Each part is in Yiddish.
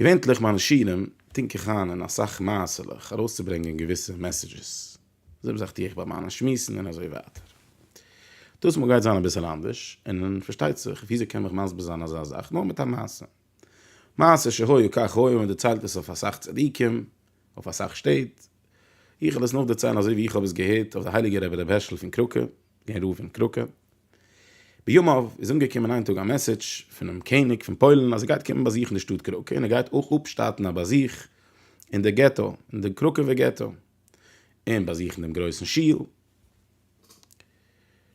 געווענטליך מיינע שירים טונק איך איין אין אסאך מעשה'לעך ארויסצוברענגען געוויסע מעסעדזשעס. די זעלבע זאך טו איך ביי מיינע שמועסן און אזוי ווייטער. דאס מאל גייט זיין אביסעל אנדערש און פארשטייט זיך וויאזוי קען מעך מסביר זיין אזא זאך נאר מיט א מעשה. מעשה שהיה כך היה מען דערציילט עס אויף אסאך צדיקים אויף אסאך שטעט. איך וועל עס נאכדערציילן אזוי ווי איך האב עס געהערט אויף די הייליגע רבי רבי הערשל פון קראקע, גערער פון קראקע. בימיו איז אנגעקומען איין טאג א מעסעדזש פונעם קעניג פון פוילן אז ער גייט קומען באזוכן די שטאט קראקע און ער גייט אויך אפשטאטן א באזוך אין די געטא, אין די קראקעווע געטא, און באזוכן דעם גרויסן שול.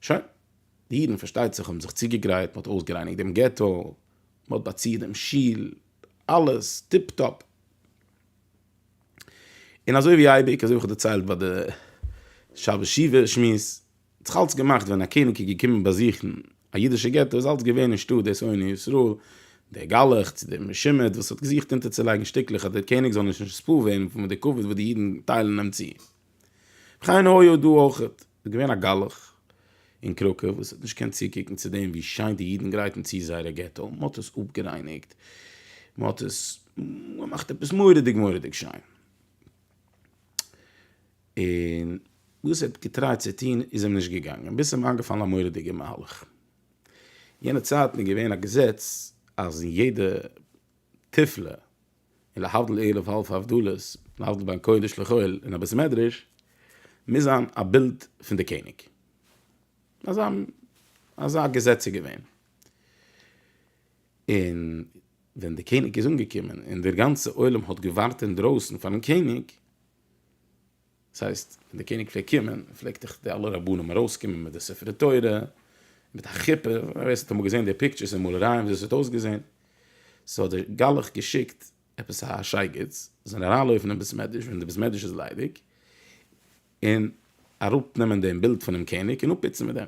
שוין, די אידן פארשטייט זיך האבן זיך צוגעגרייט, מ'האט אויסגערייניגט דעם געטא, מ'האט באצירט דעם שול, אלעס טיפ טאפ. און אזוי ווי אייביג, אזוי ווי איך האב דערציילט ביי די שבת שבעה שמועס, האט זיך אלץ געמאכט ווען א קעניג איז געקומען באזוכן א אידישע געטא איז אלץ געווען אין שטאט דער שונא ישראל, דער גלח צו דער משומד וואס האט געזוכט אונטערצולייגן שטיקלעך אז דער קעניג זאל נישט נספּאר ווערן פון די כבוד וואס די אידן טיילן אים צו. וכן הוה דא אויך, איז געווען א גלח אין קראקע וואס האט נישט געקענט צוקוקן צו דעם ווי שיין די אידן גרייטן צו זייערע געטא, מען האט עס אפּגערייניגט, מען האט עס געמאכט עפּעס מורא'דיג מורא'דיג שיין. און וואס ער האט געטרייט צו טון איז אים נישט געגאנגען, ביז ס'אים איינגעפאלן א מורא'דיגע מהלך. יענע צייטן איז געווען א געזעץ אז אין יעדע תפלה און להבדיל ערב האלב הבדלות, להבדיל בין קודש לחול אין א בית מדרש, מוז זיין א בילד פון די קעניג. אזא אזא געזעץ איז געווען. און ווען די קעניג איז אנגעקומען און דער גאנצע עולם האט געווארט אינדרויסן פארן קעניג, דאס הייסט ווען די קעניג פלעגט קומען פלעגט דאך די אלע רבנים ארויס קומען מיט די ספרי תורה מיט א חופה ווער עס האט אמאל געזען די פיקטשערס און מאלערייען וויאזוי עס האט אויסגעזען סאו האט דער גלח געשיקט עפעס א שייגעץ זיי זענען אריינלויפן אין בית מדרש ווען די בית מדרש איז ליידיג און אראפ נעמען דעם בילד פונעם קעניג און אפפיצן מיט דעם.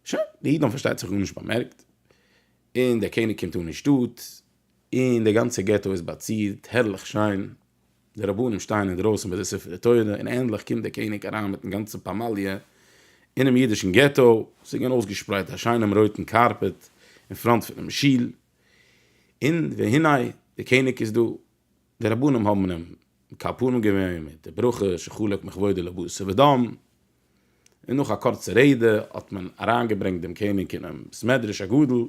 שוין, די אידן האבן פארשטייט זיך גארנישט באמערקט, און דער קעניג קומט אן אין שטאט, און די גאנצע געטא איז באצירט הערליך שיין, די רבנים שטייען אינדרויסן ביי די ספרי תורה, און ענדליך קומט דער קעניג אריין מיטן גאנצן פמליא אינעם אידישן געטא, ס'איז געווען אויסגעשפרייט א שיינעם רויטן קארפעט אין פראנט פונעם שול, און והנה דער קעניג איז דא, די רבנים האבן אים מקבל פנים געווען מיט די ברכה שחולק מכבודו לבשר ודם, און נאך א קורצע רעדע האט מען אריינגעברענגט דעם קעניג אינעם בית מדרש הגדול,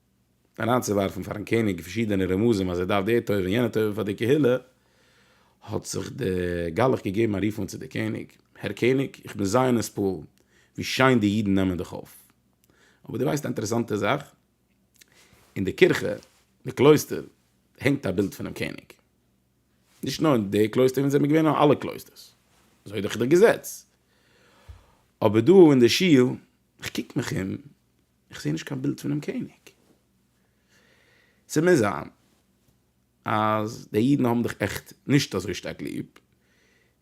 אריינצוווארפן פארן קעניג פארשידענע רמזים אז ער דארף די טובה און יענע טובה פאר די קהילה, האט זיך דער גלח געגעבן א רוף אן צו דער קעניג, הער קעניג, איך בין זייער נתפעל ווי שיין די אידן נעמען דיך אויף. אבער דו ווייסט א אינטערעסאנטע זאך? אין די קירכע, אין די קלויסטער, הענגט א בילד פונעם קעניג. נישט נאר אין די קלויסטער וואו אונז זעמיר געווען, נאר אין אלע קלויסטערס. אזוי איז דאך דער געזעץ. אבער דא אין דער שול, איך קוק מיך אום, איך זעה נישט קיין בילד פונעם קעניג. ס'מוז זיין אז די אידן האבן דיך עכט נישט אזוי שטארק ליב,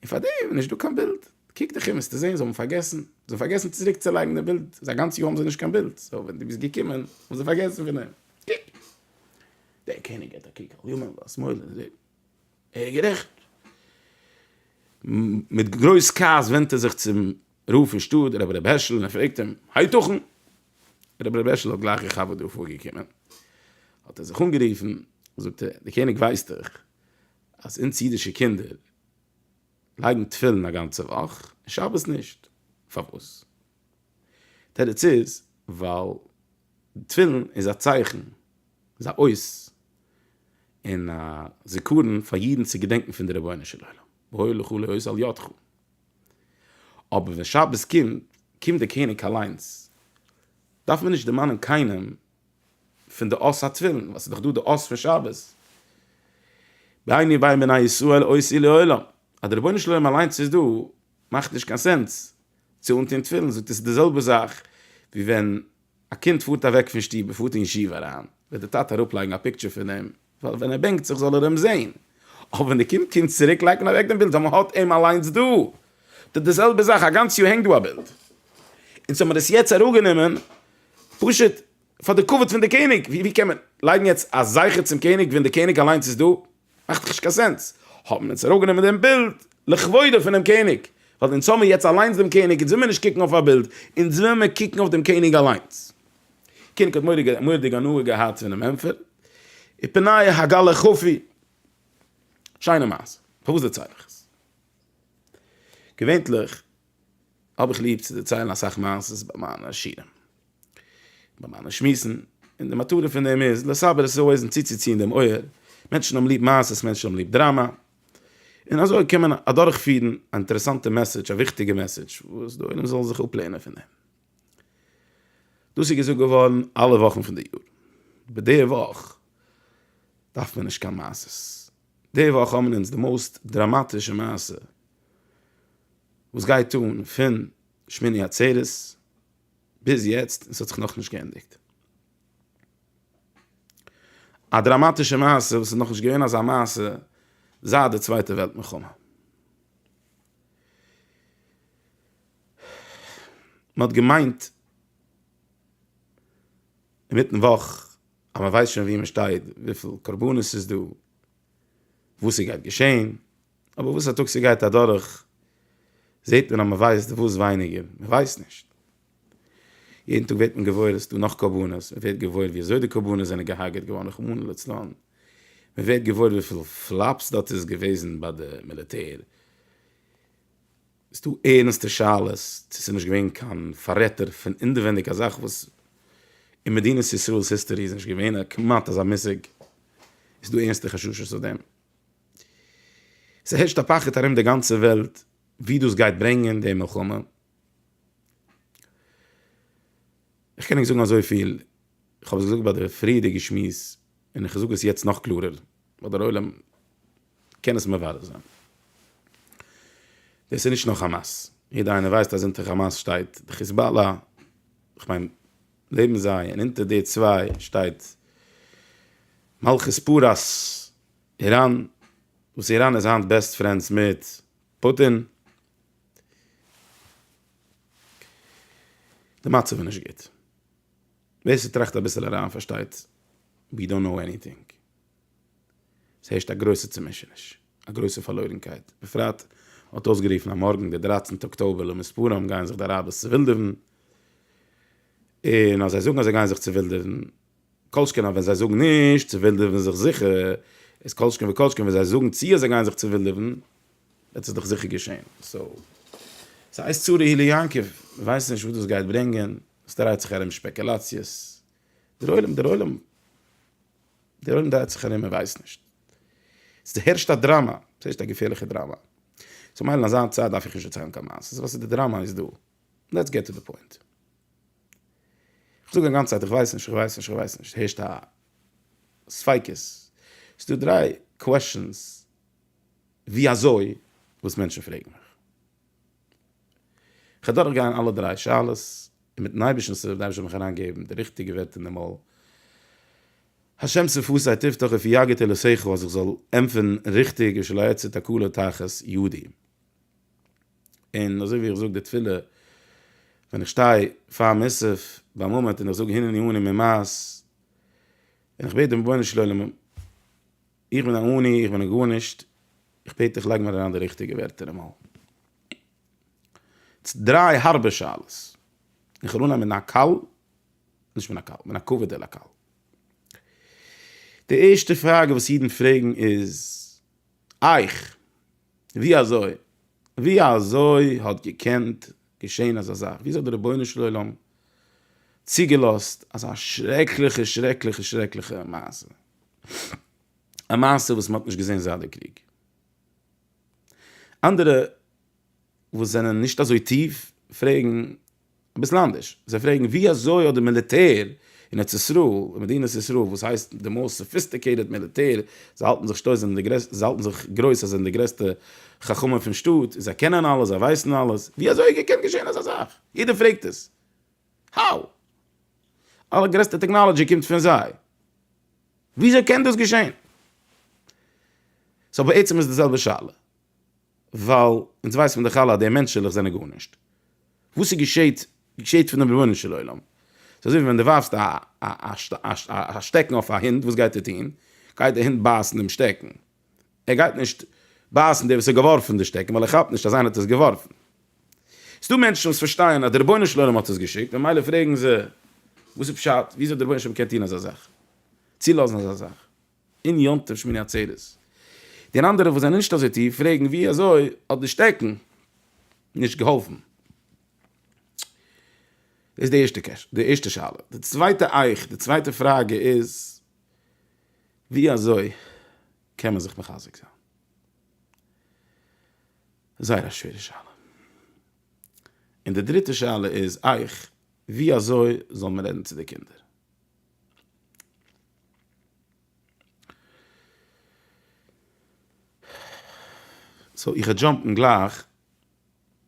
און פאר דעם איז נישט דא קיין בילד. קוק דיך אום וועסטו זען זיי האבן פארגעסן. זיי האבן פארגעסן צוריק צו לייגן די בילד. ס'איז א גאנץ יאר האבן זיי נישט קיין בילד. סאו ווען דו ביסט געקומען האבן זיי פארגעסן פון דעם. קוק! דער קעניג געט א קוק ארום, וואס מאדנע. ער איז גערעכט. מיט גרויס כעס ווענדט ער זיך צום רב פון שטאט, רבי ר' הערשל, און ער פרעגט אים, הייתכן? רבי ר' הערשל האט גלייך געכאפט וואס דא פארגעקומען, האט ער זיך אנגערופן, זאגט ער, דער קעניג ווייסט דאך אז אונז אידישע קינדער לייגן תפילין א גאנצע וואך, און שבת נישט. פארוואס? תירוץ איז, ווייל תפילין איז א צייכן, איז א אות און א זיכרון פאר אידן צו געדענקן פון די רבונו של עולם, והוי לך לאות על ידך. אבער ווען שבת קומט, קומט דער קעניג אליינס, דארף מען נישט דערמאנען קיינעם פון די אות התפילין, ווייל ס'איז דאך דא די אות פון שבת, ביני ובין בני ישראל אות היא לעולם, אז דער רבונו של עולם אליינס איז דא, מאכט נישט קיין סענס צו אנטון תפילין, זאגט ער ס'איז די זעלבע זאך ווי ווען א קינד פארט אוועק פון שטוב און פארט אין ישיבה אריין, וועט די טאטע אראפלייגן א פיקטשער פון אים, ווייל ווען ער בענקט זיך זאל ער אים זען, אבער ווען די קינד קומט צוריק לייגט מען אוועק דעם בילד ווייל מען האט אים אליינס דא, טא די זעלבע זאך א גאנץ יאר הענגט דא א בילד, אונז האב מיר עס יעצט אראפגענומען פשוט פאר די כבוד פון די קעניג, ווי קען מען לייגן יעצט א זכר צום קעניג ווען די קעניג אליינס איז דא? מאכט דאך נישט קיין סענס, האבן אונז אראפגענומען דעם בילד לכבודו פונעם קעניג, ווייל אונז האמיר יעצט אליינס דעם קעניג, אונז וויל מיר נישט קוקן אויף א בילד, אונז וויל מיר קוקן אויף דעם קעניג אליינס. דער קעניג האט מורא'דיג הנאה געהאט פונעם ענטפער, ופניה הגה ל כפי. שיינע מעשה, פארוואס דערצייל איך עס? געווענליך. האב איך ליב צו דערציילן אסאך מעשות ביי מיינע שיעורים, ביי מיינע שמועסן, און די מטרה פון דעם איז לסבר את האוזן, צוצוציען דעם אויער, מענטשן האבן ליב מעשות, מענטשן האבן ליב דראמא, און אזוי קען מען אדורכפירן א אינטערעסאנטע מעסעדזש, א וויכטיגע מעסעדזש, וואס די עולם זאל זיך אפלערנען פון דעם. דאס איז געזאגט געווארן אלע וואכן פון די יאר, אבער די וואך דארף מען נישט קיין מעשות. די וואך האבן אונז די מאוסט דראמאטישע מעשה וואס גייט אן פון שמיני עצרת ביז יעצט און ס'האט זיך נאכנישט געענדיגט. א דראמאטישע מעשה וואס איז נאכנישט געווען אזא מעשה זייט די צווייטע וועלט מלחמה. מ'האט געמיינט. אינמיטן וואך אז מען ווייסט שוין וואו מען שטייט, וויפיל קרבנות ס'איז דא, וואס ס'גייט געשען, אבער וואס א טאג ס'גייט אדורך זעט מען אז מען ווייסט דערוואס ווייניגער, מען ווייסט נישט. יעדן טאג ווערט מען געוואויר עס איז דא נאך קרבנות, מען ווערט געוואויר ווי אזוי די קרבנות זענען געהארגעט געווארן רחמנא לצלן, מען ווערט געוואויר וויפיל פלאפס דארט איז געוועזן ביי די מיליטער, ס'דא ערנסטע שאלות צו ס'איז נישט געווען קיין פאררעטער פון אינדערווינדיג א זאך וואס אין מדינת ישראל'ס היסטארי איז נישט געווען א כמעט אזא מושג איז דא ערנסטע חששות אויף דעם. ס'הערשט א פחד ארום די גאנצע וועלט ווי דאס גייט ברענגען די מלחמה. איך קען ענק זאגן אזויפיל, איך האב עס געזאגט ביי די פריערדיגע שמועס און איך זאג עס יעצט נאך קלארער, ווייל דער עולם קען עס מברר זיין. דאס איז נישט נאר חאמאס. יעדער איינער ווייסט אז אונטער חאמאס שטייט די חיזבאללא, איך מיין לעבן זיי, און אונטער די צוויי שטייט מלכות פרס איראן, וואס איראן איז היינט בעסט פרענדס מיט פוטין. די מצב איז נישט גוט. ווער ס'טראכט אביסל אריין פארשטייט, ווי דאנט נאו עניטינג. עס הערשט א גרויסע צומישעניש, א גרויסע פארלוירנקייט, בפרט האט אויסגערופן אז מארגן דער דרייצנטע אקטאבער למספרם גייען זיך די אראבערס צעווילדעווען, און אז זיי זאגן אז זיי גייען זיך צעווילדעווען, כל שכן אז ווען זיי זאגן נישט, צעווילדעווען זיך זיכער, איז כל שכן וכל שכן ווען זיי זאגן צו אז זיי גייען זיך צעווילדעווען, וועט עס דאך זיכער געשען, סאו, סאיז צרה הילי יעקב, מען ווייסט נישט וואס דאס גייט ברענגען, עס דרייט זיך ארום שפעקעלאציעס, דער עולם דער עולם. דער עולם דרייט זיך ארום און ווייסט נישט. ס'הערשט א דראמא, ס'הערשט א געפערליכע דראמא. סאו מילא אין אזא צייט דארף איך נישט דערציילן קיין מעשה'ס, וואס איז די דראמא איז דא? לעטס געט טו די פוינט. איך זאג א גאנצע צייט איך ווייס נישט, איך ווייס נישט, איך ווייס נישט, ס'הערשט א ספיקות. ס'דא דריי קוועשאנס. ווי אזוי וואס מענטשן פרעגן מיך. איך אדורך גיין אלע דריי שאלות און מיטן אייבערשטנ'ס הילף וועט די אייבערשטער מיך אריין געבן די ריכטיגע ווערטער אין די מויל. השם שפתי תפתח ופי יגעת לשכל אז איך זאל ענטפערן ריכטיג ושלא אצא תקלה תחת ידי. און אזוי ווי איך זאג די תפילה ווען איך שטיי פאר מוסף ביי מאמענט און איך זאג הנני אני ממעש און איך בעט דעם רבונו של עולם, איך בין א עני, איך בין א גארנישט, איך בעט דיך לייג מיר אריין די ריכטיגע ווערטער אמאל. דריי הארבע שאלות. איך וויל אנהייבן מיט א קאל, נישט מיט א קאל, מיט א קווידעלע א קאל. די ערשטע פראגע וואס אידן פרעגן איז אייך, ווי אזוי, ווי אזוי האט געקענט געשען אזא זאך? וויאזוי האט דער רבונו של עולם צוגעלאזט אזא שרעקליכע שרעקליכע שרעקליכע מעשה? א מעשה וואס מען האט נישט געזען זייט די קריג. אנדערע וואס זענען נישט אזוי טיף פרעגן אביסל אנדערש, זיי פרעגן ווי אזוי האט די מיליטער אין ארץ ישראל, אין מדינת ישראל וואס הייסט די מאוסט סאפיסטיקעיטעד מיליטער, זיי האלטן זיך שטויס זענען די גרעסטע, זיי האלטן זיך גרויס זיי זענען די גרעסטע חכמים פון שטאט, זיי קענען אלעס זיי ווייסן אלעס, ווי אזוי איז געקענט געשען אזא זאך? יעדער פרעגט עס. האו? אלע גרעסטע טעקנאלעדזשי קומט פון זיי? וויאזוי קען דאס געשען? סאו בעצם איז די זעלבע שאלה, ווייל אונז ווייסן פון די חלה אז די מענטשעלעך זענען גארנישט, וואס איז געשעהט געשעהט פונעם רבונו של עולם, ס'איז אזוי ווי ווען די ווארפסט א שטעקן אויף א הינט וואס גייט ער טוהן? גייט די הינט בייסן דעם שטעקן? ער גייט נישט בייסן דער וואס האט געווארפן די שטעקן ווייל ער כאפט נישט אז איינער האט עס געווארפן. ס'איז דא מענטשן וואס פארשטייען אז דער רבונו של עולם האט עס געשיקט ממילא פרעגן זיי וואס איז פשט וויאזוי דער רבונו של עולם קען טון אזא זאך צולאזן אזא זאך אין יום טוב שמיני עצרת. די אנדערע וואס זענען נישט אזוי טיף פרעגן וויאזוי האט די שטעקן נישט געהאלפן. דאס איז די ערשטע קעש די ערשטע שאלה. די צווייטע איך די צווייטע פראגע איז ווי אזוי קען מען זיך מחזק זיין? זייער א שווערע שאלה. און די דריטע שאלה איז אייך, ווי אזוי זאל מען רעדן צו די קינדער? סאו איך וועל דזשאמפן גלייך,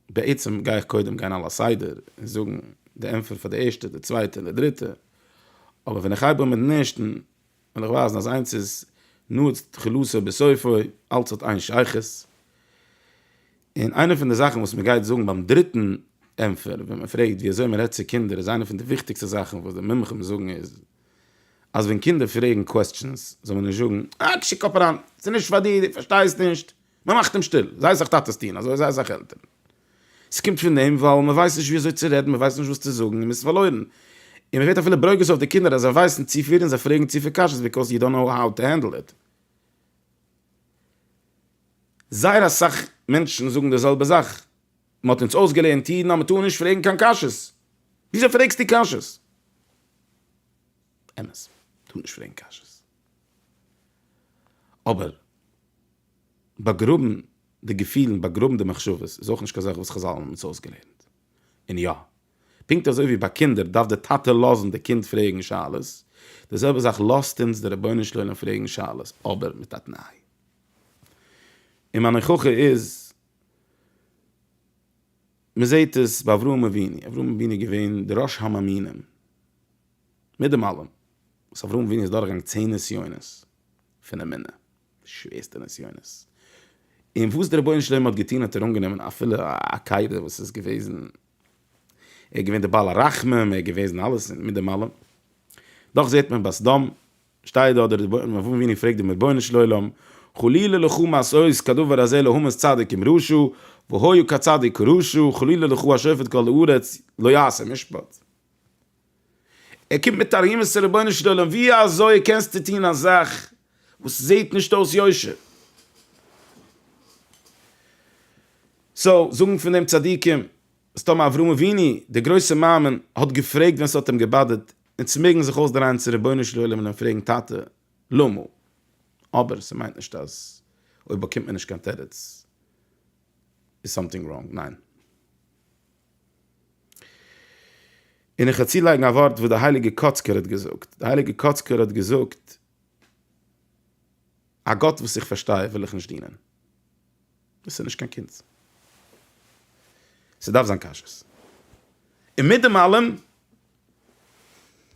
בעצם גיי איך קודם גיין על הסדר און זאגן די ענטפער פאר די ערשטע, די צווייטע און די דריטע, אבער ווען איך הייב אן מיטן ערשטן וועל איך ווייזן אז איינס איז נועץ תחילתו בסופו, אלץ האט איין שייכות. און איינע פון די זאכן וואס מען גייט זאגן ביים דריטן ענטפער ווען מען פרעגט ווי אזוי מען רעדט צו קינדער איז איינע פון די וויכטיגסטע זאכן וואס די מומחים זאגן איז אז ווען קינדער פרעגן קוועסטשענס זאל מען נישט זאגן אה קשקעפאראן ס'איז נישט פאר דיר דו פארשטייסט נישט מען מאכט אים שטיל, זיי זיך טאטעס טוען אזוי, זיי זיך עלטערן. ס'קומט פון דעם ווייל מען ווייסט נישט ווי אזוי צו רעדן, מען ווייסט נישט וואס צו זאגן און מען איז פארלוירן. און מען ווערט אפילו ברוגז אויף די קינדער אז זיי ווייסן צו פיל און זיי פרעגן צו פיל קשיות ביקאוז יו דאנט נאו האו טו הענדל איט. זייער אסאך מענטשן זאגן די זעלבע זאך, מען האט אונז אויסגעלערנט אידן אז מען טאר נישט פרעגן קיין קשיות. וויאזוי פרעגסטו קשיות? אמת, טאר נישט פרעגן קשיות. אבער באגראבן די געפילן, באגראבן די מחשבות איז אויך נישט קיין זאך וואס חזל האבן אונז אויסגעלערנט. און יא, פונקט אזוי ווי ביי קינדער דארף די טאטע לאזן די קינד פרעגן שאלות, די זעלבע זאך לאזט אונז די רבונו של עולם פרעגן שאלות, אבער מיט א תנאי. און מיין הוכחה איז, מען זעט עס ביי אברהם אבינו, אברהם אבינו איז געווען דער ראש המאמינים, מיט דעם אלעם, וואס אברהם אבינו איז דורכגעגאנגען צען נסיונות פון אמונה, די שווערסטע נסיונות, און וואס דער רבונו של עולם האט געטון האט ער אנגענומען אפילו א קיידער וואס איז געוועזן, ער איז געווען דער בעל הרחמים, ער איז געוועזן אלעס מיט דעם אלעם, דאך זעט מען בסדום שטייט דארט דער אברהם אבינו פרעגט דעם רבונו של עולם, חלילה לך מעשות כדבר הזה להמות צדיק עם רשע, והיה כצדיק כרשע, חלילה לך השופט כל הארץ לא יעשה משפט. ער קומט מיט א רומז צו רבונו של עולם ווי אזוי קענסטו טון א זאך וואס זעט נישט אויס יושר. סאו זאגן פון דעם צדיקים אז טאמער אברהם אבינו דער גרויסער מאמין האט געפרעגט ווען ס'האט אים געבאדערט, אונז מעגן זיך אויסדרייען צו רבונו של עולם און אים פרעגן טאטע למה? אבער ס'מיינט נישט אז אויב באקומט מען נישט קיין תירוץ איז סאמטינג ראנג, ניין. און איך וועל צולייגן א ווארט וואס דער הייליגער קאצקער האט געזאגט, דער הייליגער קאצקער האט געזאגט, א גאט וואס איך פארשטיי וועל איך נישט דינען. דאס איז נישט קיין קונץ. ס'דארף זיין כשרות. און מיט דעם אלעם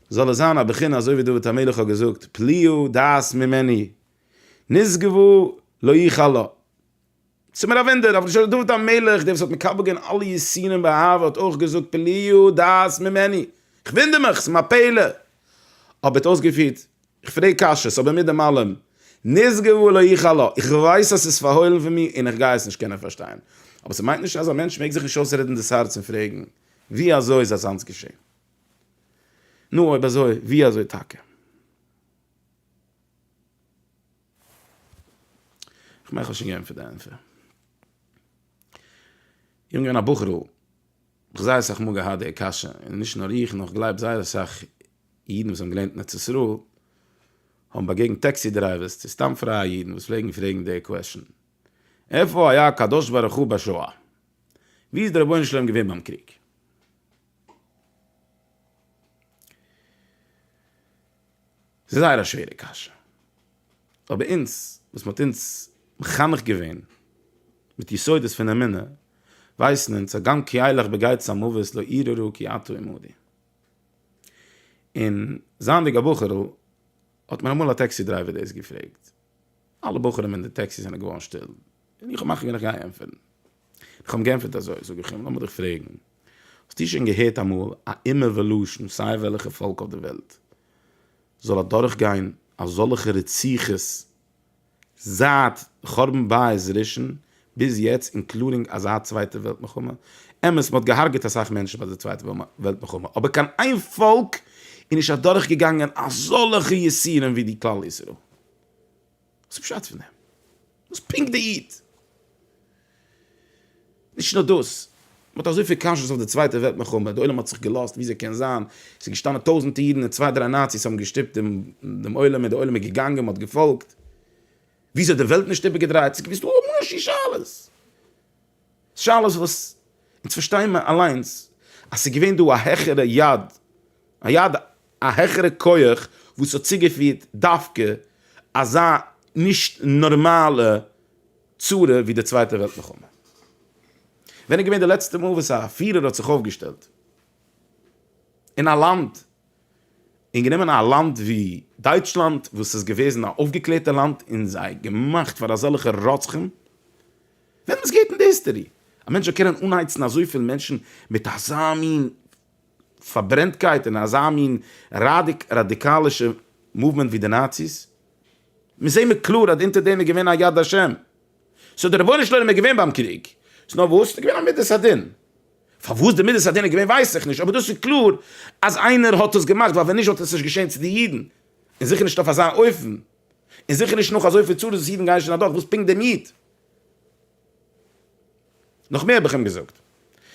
זאל עס זיין א בחינה אזוי ווי דוד המלך האט געזאגט, פליאה דעת ממני נשגבו לא איחל לה. ס'איז מיר א וואונדער, אבער שוין דוד המלך, דער וואס האט מקבל געווען אלע יסורים באהבה, האט אויך געזאגט פליאו דעת ממני. כ'וואונדער מיך, ס'איז מיר א פלא. אבער האט אויסגעפירט, איך פרעג קשיות, אבער מיט דעם אלעם, נשגב ולא איחל לו, איך ווייס אז ס'איז פארהוילן פון מיר און איך גיי עס נישט קענען פארשטיין. אבער ס'מיינט נישט אז א מענטש מעג זיך נישט אויסרעדן דאס הארץ און פרעגן, ווי אזוי איז אזאנס געשען? נו, אויב אזוי, ווי אזוי טאקע? כ'מיין כ'האב שוין געענטפערט די ענטפער. יונג און א בחור'ל, כ'האב זייער אסאך מאל געהאט די קשיא, און נישט נאר איך נאר כ'גלייב זייער אסאך אידן וואס האבן געלערנט אין ארץ ישראל, האבן באגעגנט טעקסי דרייווערס צו סתם פרייע אידן וואס פלעגן פרעגן די קוועשאן, איפה היה הקדוש ברוך הוא בשואה? ווי איז דער רבונו של עולם געווען ביים קריג? ס'איז זייער א שווערע קשיא. אבער אונז, וואס מ'האט אונז מחנך געווען מיט יסודות פון אמונה, ווייסן אונז אז גם כי אלך בגיא צמאוות לא אירערו כי אתה עמדי. און זייענדיג א בחור'ל, האט מיר אמאל א טעקסי דרייווער דאס געפרעגט. אלע בחורים אין די טעקסי זענען געווארן שטיל, און איך האב מחליט ווען איך גיי ענטפערן. איך האב אים געענטפערט אזוי, זאג איך אים, לאמיר דיך פרעגן, האסטו שוין געהערט אמאל א אומה ולשון, סיי וועלכע פאלק אויף די וועלט, זאל אדורך גיין אזאלכע רציחות זייט חורבן בית ראשון, ביז יעצט אינקלודינג אזא צווייטע וועלט מלחמה, אמת מען האט געהארגעט אסאך מענטשן ביי די צווייטע וועלט מלחמה אבער קיין איין פאלק איז נישט אדורך געגאנגען אזאלעכע יסורים ווי די כלל ישראל. וואס איז פשט פון דעם? וואס פונקט די איד? נישט נאר דאס, מען האט אזויפיל קשיות אויף די צווייטע וועלט מלחמה, די עולם האט זיך געלאזט ווי אזוי קען זיין, ס'איז געשטאנען טויזענטע אידן און צוויי דריי נאציס האבן געשטופט דעם עולם און די עולם איז געגאנגען מען האט געפאלגט. וויאזוי האט די וועלט נישט איבערגעדרייט? ס'איז געווען דא המון השי שאלות. שאלות וואס אונז פארשטייען מיר אליינס אז ס'איז געווען דא א העכערע יד, א יד, א העכערע כח וואס האט צוגעפירט דווקא אזא נישט נארמאלע צרה ווי די צווייטע וועלט מלחמה. ווען איז געווען די לעצטע מאל וואס א פירער האט זיך אויפגעשטעלט אין א לאנד און גענומען א לאנד ווי דייטשלאנד וואס איז געוועזן א אויפגעקלערטע לאנד און זיי געמאכט פאר אזעלכע רוצחים, וועמענס געהערט אין די היסטערי? א מענטש זאל קענען אנהייצן אזויפיל מענטשן מיט אזא מין פארברענטקייט און אזא מין ראדיקאלישע מאוומענט ווי די נאציס? מיר זעהן מיר קלאר אז אונטער דעם איז געווען א יד השם, סאו די רבונו של עולם איז געווען ביים קריג, ס'נאר וואס? ס'איז געווען א מדת הדין. פארוואס די מידת הדין איז געווען ווייס איך נישט, אבער דאס איז קלאר אז איינער האט עס געמאכט, ווייל ווען נישט וואלט עס נישט געשען צו די אידן, און זיכער נישט אויף אזא אופן, און זיכער נישט נאך אזויפיל צרות וואס אידן גייען שוין אדורך, וואס פונקט דעם איד? נאך מער האב איך אים געזאגט,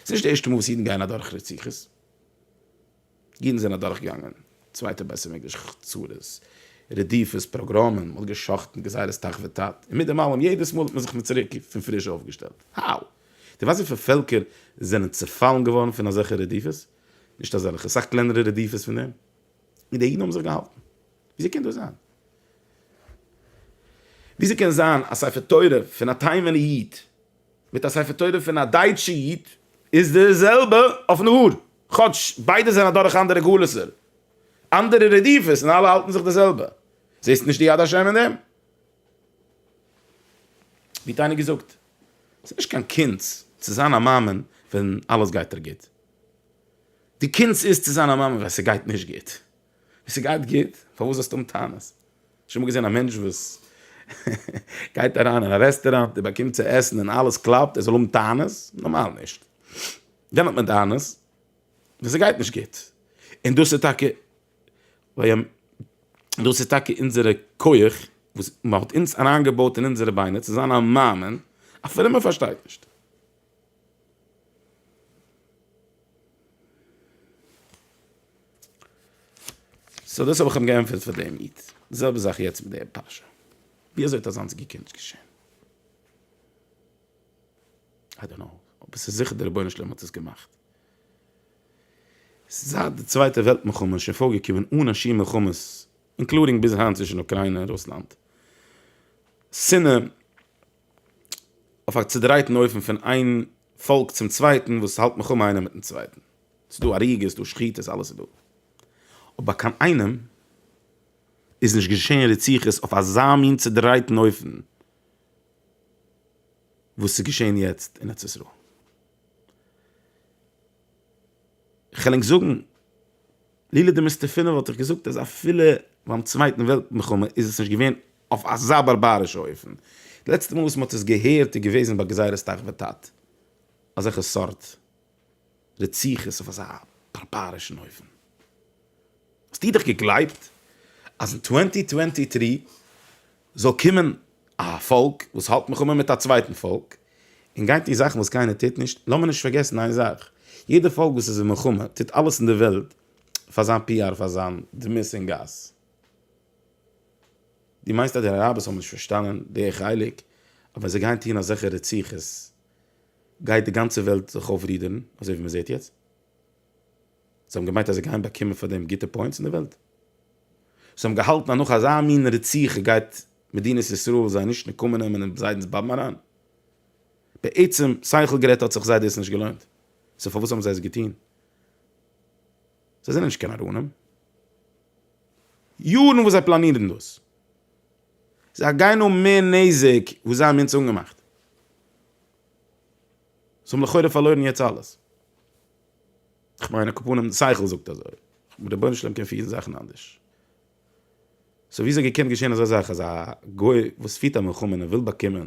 ס'איז נישט די ערשטע מאל וואס אידן גייען אדורך רציחות. אידן זענען אדורכגעגאנגען צווייטע בית המקדש חצרות, רדיפות, פאגראמען, מ'האט גע'שחט'ן, גזירת תח ותט, און מיט דעם אלעם יעדעס מאל האט מען זיך מיט צוריק פון פריש אויפגעשטעלט. האו! דו ווייסט וויפיל פעלקער זענען צעפאלן געווארן פון אזעלכע רדיפות? נישט אזעלכע, סאך קלענערע רדיפות פון דעם. און די אידן האבן זיך געהאלטן. וויאזוי קען דאס זיין? וויאזוי קען זיין א ספר תורה פון א תימן'ע איד? מיט א ספר תורה פון א דייטשע איד איז די זעלבע אויפן האר, כאטש ביידע זענען אדורך אנדערע גלות'ער, אנדערע רדיפות און אלע האלטן זיך די זעלבע. זעסט נישט די יד השם אין דעם? ווי האט איינער געזאגט? ס'איז נישט קיין קונץ צו זיין א מאמין ווען אלעס גייט דיר גוט. די קונץ איז צו זיין א מאמין ווען ס'גייט נישט גוט. ווען ס'גייט גוט, פארוואס זאלסטו האבן טענות? האסט שוין אמאל געזען א מענטש וואס גייט אריין אין א רעסטוראנט, ער באקומט צו עסן און אלעס קלאפט, ער זאל האבן טענות? נארמאל נישט. ווען האט מען טענות? ווען ס'גייט נישט גוט. און דאס איז טאקע ווען, דאס איז טאקע אונזערע כח וואס מ'האט אונז אריינגעבויט אין אונזערע ביינער צו זיין א מאמין, א פרומער פארשטייט נישט. סאו דאס האב איך אים געענטפערט פאר דעם איד. די זעלבע זאך יעצט מיט דער פרשה. ווי אזוי האט אזאנס געקענט געשען? איי דאנט קנאו. אבער ס'איז זיכער דער רבונו של עולם האט עס געמאכט. זייט די צווייטע וועלט מלחמה איז שוין פארגעקומען אן א שיעור מלחמות, אינקלודינג ביז היינט צווישן אוקריינע און רוסלאנד. שנאה אויף א צודרייטן אופן פון איין פאלק צום צווייטן וואס האלט מיך אן איינער מיטן צווייטן, ס'איז דא הריגות דא שחיטות אלעס איז דא, אבער ביי קיין איינעם איז נישט געשען רציחות אויף אזא מין צודרייטן אופן וואס איז געשען יעצט אין ארץ ישראל. כ'על ענק זאגן, לולא דמסתפינא וואלט איך געזאגט אז אפילו ביים צווייטן וועלט מלחמה איז עס נישט געווען אויף אזא בארבארישע אופן. די לעצטע מאל וואס מען האט עס געהערט איז געוועזן ביי גזירת תח ותט. אזעלכע סארט רציחות אויף אזא בארבארישן אופן. האסטו דאך געגלייבט אז אין טווענטי טווענטי טרי זאל קומען א פאלק וואס האלט מלחמה מיט א צווייטן פאלק און גייט טון זאכן וואס קיינער טוט נישט, לאמיר נישט פארגעסן איין זאך, יעדע פאלק וואס איז אין מלחמה טוט אלעס אין די וועלט פאר זיין פי אר פאר זיין דמות אין גאס. דו מיינסט אז די אראבערס האבן נישט פארשטאנען די חלק אז ווען זיי גייען טון אזעלכע רציחות גייט די גאנצע וועלט זיך אויפרודערן אזוי ווי מען זעט יעצט? זיי האבן געמיינט אז זיי גייען באקומען פאר דעם גוטע פוינטס אין די וועלט, זיי האבן געהאלטן אז נאך אזא מין רציחה גייט מדינת ישראל זיי נישט נקמה נעמען און זיידענס באבן אריין. בעצם שכל גערעדט האט זיך זיי דאס נישט געלוינט, סאו פארוואס האבן זיי עס געטון? זיי זענען נישט קיין נאראנים. יארן וואס זיי פלאנירן דאס, זיי גייען האבן מער נזק וואס זיי האבן אונז אנגעמאכט. זיי האבן לכאורה פארלוירן יעצט אלעס. כ'מיין א קאפנים שכל זאגט אזוי. רבונו של עולם קען פירן זאכן אנדערש. סאו וויאזוי געקענט געשען אזא זאך אז א גוי וואס פירט א מלחמה און ער וויל באקומען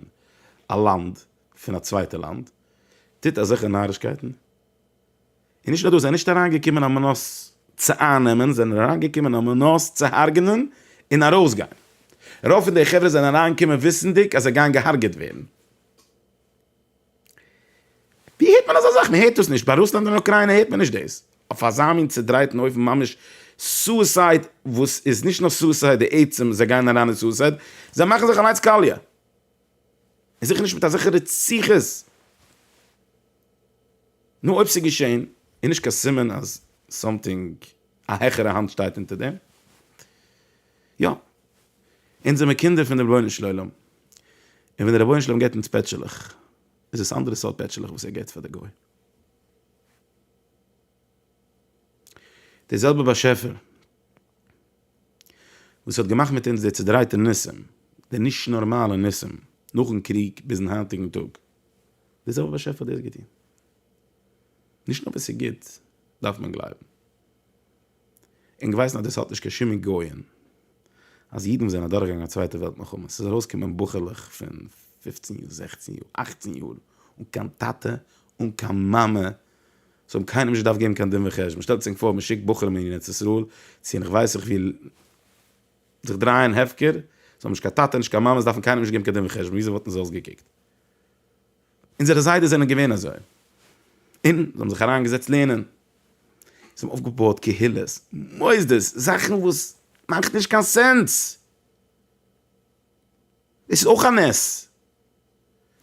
א לאנד פון א צווייטע לאנד טוט אזעלכע נארישקייטן? און נישט נאר דאס, זיי זענען נישט אריינגעקומען על מנת צו אייננעמען, זיי זענען אריינגעקומען על מנת צו הרג'נען און ארויסגיין. רוב פון די חברה זענען אריינגעקומען וויסנדיג אז זיי גייען געהארגעט ווערן. ווי הערט מען אזא זאך? מען הערט דאס נישט, ביי רוסלאנד און אוקריינע הערט מען נישט דאס, אויף אזא מין צודרייטן אופן, ממש סוסייד, וואס איז נישט נאר סוסייד די עצם זיי גייען אריין אין סוסייד, זיי מאכן זיך אליינס קאליע, און זיכער נישט מיט אזעלכע רציחות, נו אויב ס'איז געשען, איז נישט קיין סימן אז סאמטינג, א העכערע האנט שטייט אונטער דעם? יא. אונז זעמיר קינדער פון דעם רבונו של עולם, און ווען דער רבונו של עולם געבט אונז פעטשעלעך, איז עס אנדערע סארט פעטשעלעך וואס ער געבט פאר דער גוי. דער זעלבער באשעפער וואס האט געמאכט מיט אונז די צעדרייטע ניסים, די נישט נארמאלע ניסים, נאכן קריג ביזן היינטיגן טאג, דער זעלבער באשעפער האט דאס געטון. נישט נאר וואס ס'איז גוט דארף מען גלייבן. און געווייסן אז דאס האט נישט קיין שום היגיון אז אידן וואס זענען אדורכגעגאנגען א צווייטע וועלט מלחמה, ס'איז ארויסגעקומען בחור'לעך פון פופצן יאר, זעכצן יאר, אכצן יאר, אן קיין טאטע, אן קיין מאמע, זיי האבן קיינעם נישט געדארפט געבן קיין דין וחשבון, שטעלט זיך פאר מ'שיקט בחורים אין ארץ ישראל צו איך ווייס איך וואו זיך דרייען הפקר, זיי האבן נישט קיין טאטע נישט קיין מאמע, זיי דארפן קיינעם נישט געבן קיין דין וחשבון, וויאזוי וואלטן זיי אויסגעקוקט? אונזערע זיידעס זענען געווען אזוי. און זיי האבן זיך אריינגעזעצט לערנען. זיי האבן אויפגעבויעט קהילות, מוסדות, זאכן וואס מאכט נישט קיין סענס. דאס איז אויך א נס.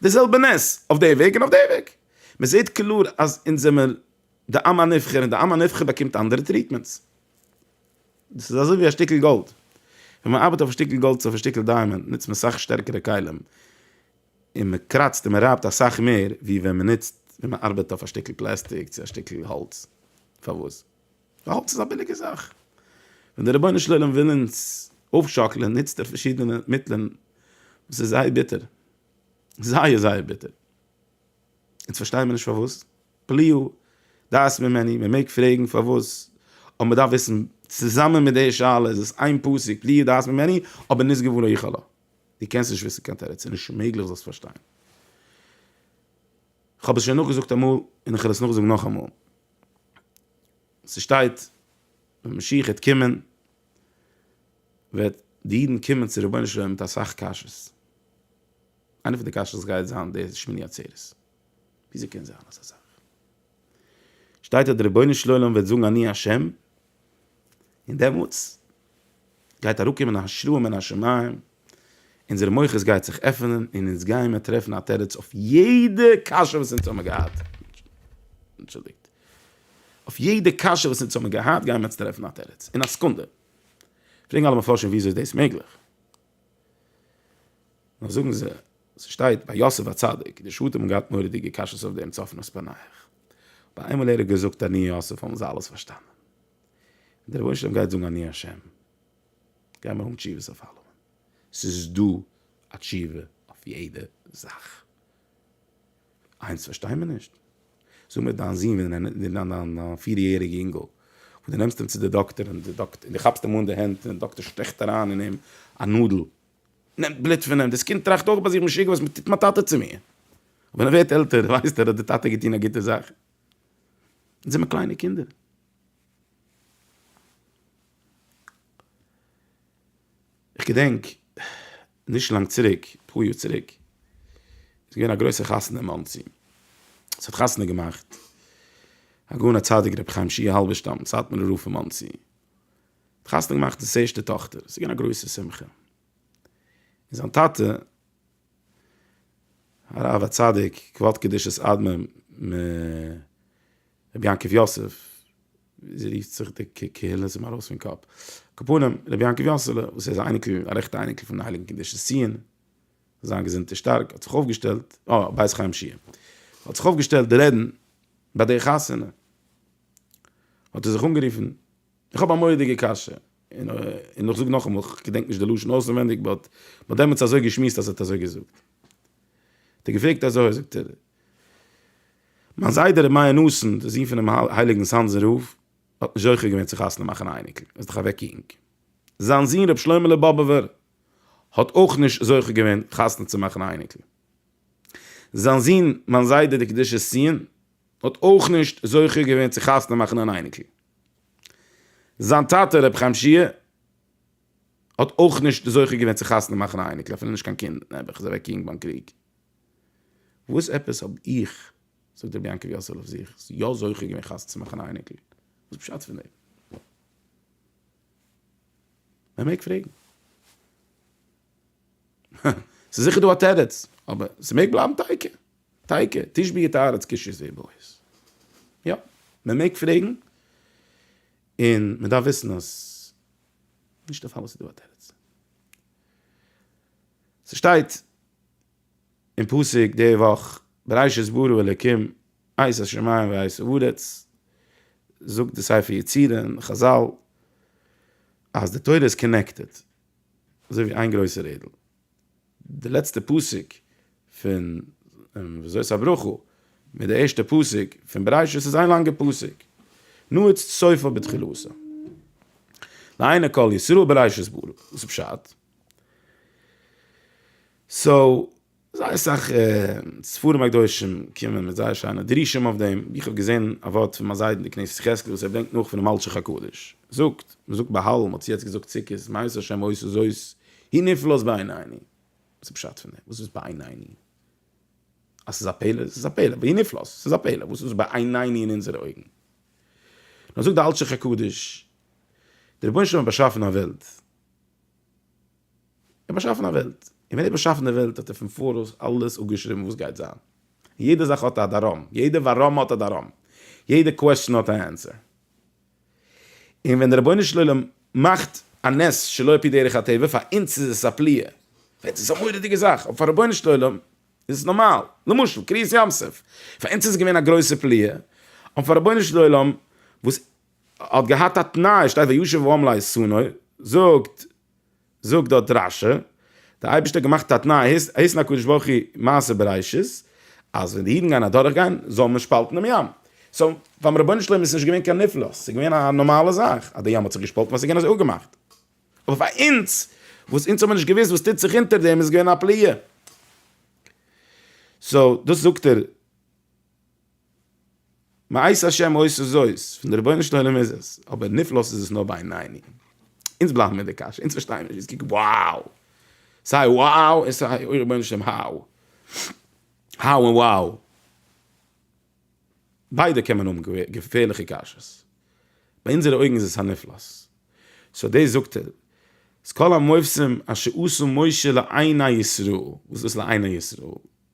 די זעלבע נס אויף די וועג און אויף די וועג. מען זעט קלאר אז אונז זעמער די עם הנבחר און די עם הנבחר באקומט אנדערע טריטמענטס. דאס איז אזוי ווי א שטיקל גאלד. ווען מען ארבעט אויף א שטיקל גאלד צו אויף א שטיקל דיימאנד נוצט מען סאך שטערקערע כלים. און מען קראצט און מען רייבט אסאך מער ווי ווען מען נוצט ווען מען ארבעט אויף א שטיקל פלעסטיק צו א שטיקל האלץ, פארוואס? ווייל האלץ איז א ביליגע זאך, ווען דער רבונו של עולם וויל אונז אויפשאקלען נוצט ער פארשידענע מיטלען וואס איז זייער ביטער, זייער זייער ביטער, אונז פארשטייען מיר נישט פארוואס, פליאה דעת ממני, מען מעג פרעגן פארוואס, אבער מען דארף וויסן צוזאמען מיט די שאלה איז עס איין פסוק פליאה דעת ממני אבער נזגו ולא יכלו. דו קענסט נישט וויסן קיין תירוץ, ס'איז נישט מעגליך זאלסט פארשטיין. כ'האב עס שוין נאכגעזאגט אמאל און כ'וועל עס נאכזאגן נאכאמאל. ס'שטייט ווען משיח וועט קומען וועט די אידן קומען צו רבונו של עולם מיט אסאך קשיות. איינע פון די קשיות גייט זיין די שמיני עצרת. וויאזוי קען זיין אזא זאך? שטייט אז דער רבונו של עולם וועט זאגן אני ה', און דעמאלטס גייט אראפקומען א השראה מן השמים, אונזער מוחות גייט זיך עפענען און אונז גיימער טרעפן א תירוץ אויף יעדע קשיא וואס אונז האבן געהאט, אנטשולדיגט, אויף יעדע קשיא וואס אונז האבן געהאט גיימער יעצט טרעפן א תירוץ, אין א סעקונדע, פרעגן אלע מפרשים וויאזוי איז דאס מעגליך? נאר זאגן זיי, ס'שטייט ביי יוסף הצדיק, די שטים האבן געהאט מורא'דיגע קשיות אויף דעם צפון אויס פאנאיך. אבער איינמאל ער האט געזאגט אני יוסף האבן זיי אלעס פארשטאנען. און דער רבונו של עולם גייט זאגן אני השם, גיימער האבן תשובות אויף אלעמען. ס'איז דא א תשובה אויף יעדע זאך. איינס פארשטיי מיר נישט, זאג מיר דיין זון דיין פיר יעריגע אינגל וואס דו נעמסט אים צו די דאקטער און דו כאפסט אים אן די הענט און די דאקטער שטעכט אריין אין אים א נאדל נעמט בלוט פון אים, דאס קינד טראכט אויך ביי זיך משוגע וואס טוט מיין טאטע צו מיר, ווען ער ווערט עלטער ווייסט ער אז די טאטע האט געטון א גוטע זאך, אונז זעמער קליינע קינדער. איך געדענק נישט לאנג צוריק, אפאר יאר צוריק, איז געווען א גרויסע חתונה אין מאנסי, עס האט חתונה געמאכט הגאון הצדיק רבי חיים שיע האלבערשטאם סאטמארער רב פון מאנסי, ער האט חתונה געמאכט די ערשטע טאכטער, עס איז געווען א גרויסע שמחה, און זיין טאטע הרב הצדיק כבוד קדושת אדמור מ רבי יעקב יוסף ווי זי רופט זיך די קהילה איז אים ארויס פון קאפ. קאפונים, רבי יעקב יאסעלע, וואס ער איז א אייניקל, א רעכטע אייניקל פונעם הייליגן קדושת ציון, זיין געזונט איז שטארק, האט זיך אויפגעשטעלט, אה, בית חיים שיע. האט זיך אויפגעשטעלט די רעדן ביי די חתונה. האט ער זיך אנגערופן, איך האב א מורא'דיגע קשיא, און און איך זאג נאכאמאל, איך געדענק נישט די לשון אויסענווענדיג באט מען האט דעמאלטס אזוי געשמועסט אז ער האט אזוי געזאגט. האט ער געפרעגט אזוי, זאגט ער, מיין זיידע ר' מאיר נאסן, דער זון פונעם הייליגן סאנזער רב, האט נישט זוכה געווען צו חתונה מאכן א אייניקל, ער איז דאך אוועק יונג. זיין זון ר' שלוימעלע באבובער, האט אויך נישט זוכה געווען חתונה צו מאכן א אייניקל. זיין זון מיין זיידע דער קדושת ציון, האט אויך נישט זוכה געווען צו חתונה מאכן אן אייניקל. זיין טאטע ר' חיים שיע, האט אויך נישט זוכה געווען צו חתונה מאכן א אייניקל, אפילו נישט קיין קינד, נעבעך, איז אוועק יונג ביים קריג. וואס עפעס האב איך, זאגט רבי יעקב יוסל אויף זיך, יא זוכה געווען חתונה צו מאכן א אייניקל? וואס פשט פון דעם? מען מעג פרעגן. ס'איז זיכער דא א תירוץ, אבער ס'מעג בלייבן טייקע. טייקע, תשבי את הארץ קשיא זי בועז. יא, מען מעג פרעגן, און מען דארף וויסן אז נישט דערפאר וואס ס'איז דא א תירוץ. ס'שטייט אין פסוק די וואך, בראשית ברא אלקים את השמים ואת הארץ, זאגט די ספר יצירה און חזל אז די תורה איז קאנעקטעד אזוי ווי איין גרויסע רעדל, די לעצטע פסוק פון וזאת הברכה מיט די ערשטע פסוק פון בראשית איז איין לאנגע פסוק, נועץ סופה בתחילתה לעיני כל ישראל בראשית ברא, וואס איז פשט? סאו זייער אסאך ספרים הקדושים קומען מיט זייער שיינע דרושים אויף דעם, ווי איך האב געזען א ווארט פון מיין זיידע אין די כנסת יחזקאל וואס ער ברענגט נאך פונעם אלשיך הקדוש, זאגט, מען זאגט בהל, מען האט צו יעצט געזאגט סוכות, מה יעשה השם עושה זאת, היא נפלאת בעינינו, וואס איז פשט פון דעם, וואס איז בעינינו? אז ס'איז א פלא? ס'איז א פלא, והיא נפלאת, ס'איז א פלא, וואס איז בעינינו אין אונזערע אויגן? נאר זאגט די אלשיך הקדוש, דער רבונו של עולם האט באשאפן א וועלט, און באשאפן א וועלט, און ווען ער האט באשאפן די וועלט האט ער פון פאראויס אלעס אפגעשריבן וואס גייט זיין, און יעדע זאך האט א דאראם, יעדע ווארום האט א דאראם, יעדע קוועסטשען האט א ענסער, און ווען דער רבונו של עולם מאכט א נס שלא על פי דרך הטבע, פאר אונז איז עס א פליאה, פאר אונז איז עס א מורא'דיגע זאך, אבער פאר רבונו של עולם איז עס נארמאל, למשל קריעת ים סוף, פאר אונז איז עס געווען א גרויסע פליאה, אבער פאר רבונו של עולם וואס האט געהאט א תנאי, שטייט וישוב העם לאיסונו, זאגט זאגט דארט רש י, דער אייבערשטער האט געמאכט א תנאי, היתן הקדוש ברוך הוא מעשה בראשית, אז ווען די אידן גייען אדורך גיין, זאל מען שפאלטן דעם ים, סאו ביים רבונו של עולם איז נישט געווען קיין נפלאות, ס'איז געווען א נארמאלע זאך, אז די ים האט זיך געשפאלטן ווייל ס'איז געווען אזוי אפגעמאכט, אבער פאר אונז, וואס אונז האבן נישט געוואוסט וואס טוט זיך אונטער דעם, איז געווען א פלאה, סאו דאס זאגט ער. מעשה השם אויס איז אויס, פון די רבונו של עולם איז עס, אבער נפלאות איז עס נאר ביי עינינו. אונז בלייבן מיט די קשיא, אונז פארשטייען נישט, אונז קוקן wow, סיי wow און סיי אוי רבונו של עולם how, how און wow, ביידע קען מען האבן געפערליכע קשיות, ביי אונזערע אויגן איז עס א נפלאות, סאו דאס זאגט ער, אז כל המופסים אשר עשו משה לעיני ישראל, וואס איז דאס לעיני ישראל?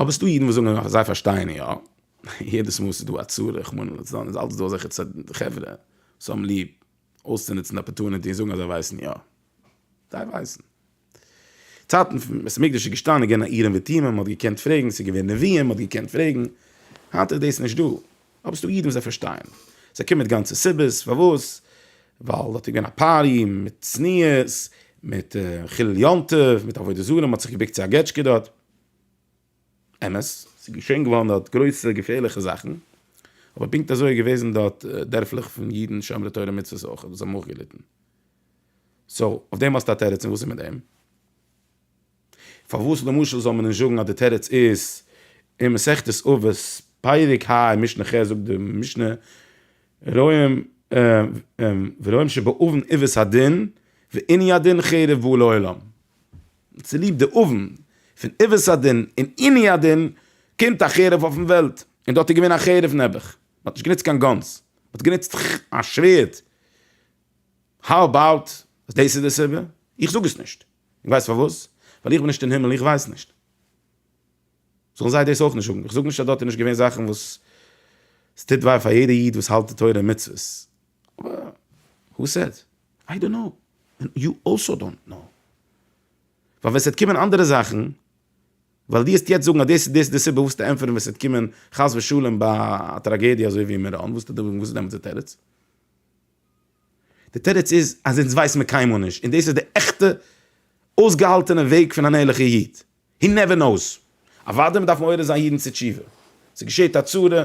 אבער ס'דא אידן וואס זאגן אז זיי פארשטייען יא, יעדעס מאל ס'איז דא א צרה רחמנא לצלן איז אלץ דא אזעלכע חברה וואס האבן ליב אויסצונוצן די אפערטונעטי און זאגן אז זיי ווייסן יא. זיי ווייסן. צייטן ווען בית המקדש איז געשטאנען איז געווען א אורים ותומים, מ'האט געקענט פרעגן, ס'איז געווען נביאים, מ'האט געקענט פרעגן. היינט איז דאס נישט דא. אבער ס'דא אידן וואס זיי פארשטייען, זיי קומען מיט גאנצע סיבות פארוואס, ווייל דארט איז געווען א פארטי מיט צניעות, מיט חילול יום טוב, מיט עבודה זרה, מ'האט זיך געבוקט צו א געטשקע דארט. אמת, ס'איז געשען געווארן דארט גרויסע געפערליכע זאכן, אבער פונקט אזוי איז געוועזן דארט דערפלעך פון אידן שומרי תורה ומצוות אויך וואס האבן אויך געליטן. סאו, אויף דעם האסטו א תירוץ און וואס איז מיט דעם? פארוואס למשל זאל מען נישט זאגן אז די תירוץ איז אין מסכת אבות פרק ה אין משנה ח זאגט די משנה רואים ורואים שבאבן עיוות הדין ועיני הדין חרב והוא לא עולם, צוליב די אבן פון עיוות הדין און עיני הדין קומט א חרב אויפן וועלט, און דארט איז געווען א חרב נעבעך, מען האט נישט גענוצט קיין גאנס, מען האט גענוצט א שווערד, האו אבאוט אז דאס איז די סיבה? איך זאג עס נישט. איך ווייס פארוואס, ווייל איך בין נישט אין הימל, איך ווייס נישט. זאלן זיי דאס אויך נישט זאגן. איך זאג נישט אז דארט איז נישט געווען זאכן וואס עס טוט וויי פאר יעדע איד וואס האלט די תורה און מצוות, אבער הו סעד? איי דאנט קנאו, און יו אלסאו דאנט קנאו. ווייל ווען עס וועט קומען אנדערע זאכן, ווייל דו העסט יעצט זאגן אז דאס און דאס איז די סיבה, וואס וועסטו ענטפערן ווען עס וועט קומען חס ושלום א טראגעדיע אזוי ווי אין מירון, וואס וועסטו זאגן, וואס איז דעמאלטס די תירוץ? די תירוץ איז אז אונז ווייסן מיר קיינמאל נישט, און דאס איז די עכטע אויסגעהאלטענע וועג פון אן ערליכער איד, הי נעווער נאוס. אוודאי מ'דארף מעורר זיין אידן צו תשובה, ס'געשעט א צרה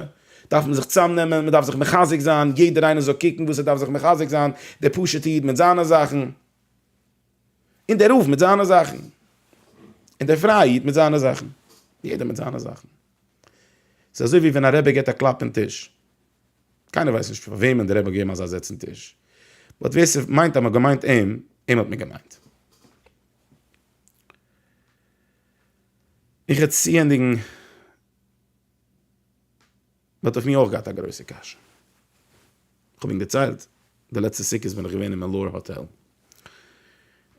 דארף מען זיך צאמנעמען, מ'דארף זיך מחזק זיין, יעדער איינער זאל קוקן וואס ער דארף זיך מחזק זיין, דער פשוט'ע איד מיט זיינע זאכן, און דער רב מיט זיינע זאכן, און דער פרייע איד מיט זיינע זאכן, יעדער מיט זיינע זאכן. ס'איז אזוי ווי ווען א רבי געט א קלאפ אין טיש, קיינער ווייסט נישט פאר וועמען דער רבי האט געגעבן אזא זיץ אין טיש, באט ווער ס'מיינט אז מ'האט געמיינט אים, אים האט מען געמיינט. איך וועל צוענדיגן, מ'האט אויף מיר אויך געהאט א גרויסע קשיא, כ'האב אים געציילט, די לעצטע סוכות בין איך געווען אין מעלאור האטעל, און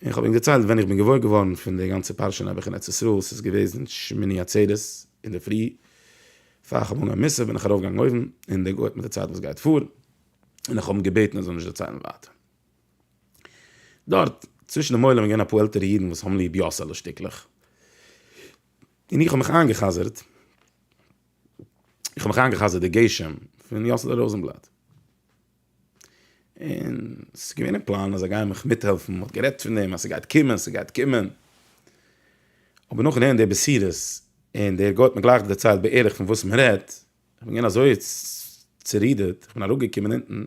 איך האב אים דערציילט ווען איך בין געוואויר געווארן פון די גאנצע פרשה נעבעך אין ארץ ישראל, ס'איז געוועזן שמיני עצרת אינדערפרי, פאר איך האב אנגעהויבן מיסה בין איך ארויף געגאנגען אויבן, און דער גוי האט מיר דערציילט וואס גייט פאר, און איך האב אים געבעטן ער זאל נישט דערציילן ווייטער. דארט צווישן דעם עולם איז געווען אפאר עלטערע אידן וואס האבן ליב יאסעלע שטיקלעך, און איך האב מיך איינגע'חזר'ט, איך האב מיך איינגע'חזר'ט די גשם פון יאסעלע ראזענבלאט. און ס'איז געווען אין פלאן אז זיי גייען מיך מיטהעלפן, מ'האט גערעדט פון דעם אז ס'גייט קומען, ס'גייט קומען. אבער נאכן הערן די בשורות, און דער גוי האט מיר גלייך דערציילט בערך פון וואס מ'רעדט, כ'בין געווען אזוי צורודערט, כ'בין אראפגעקומען אונטן,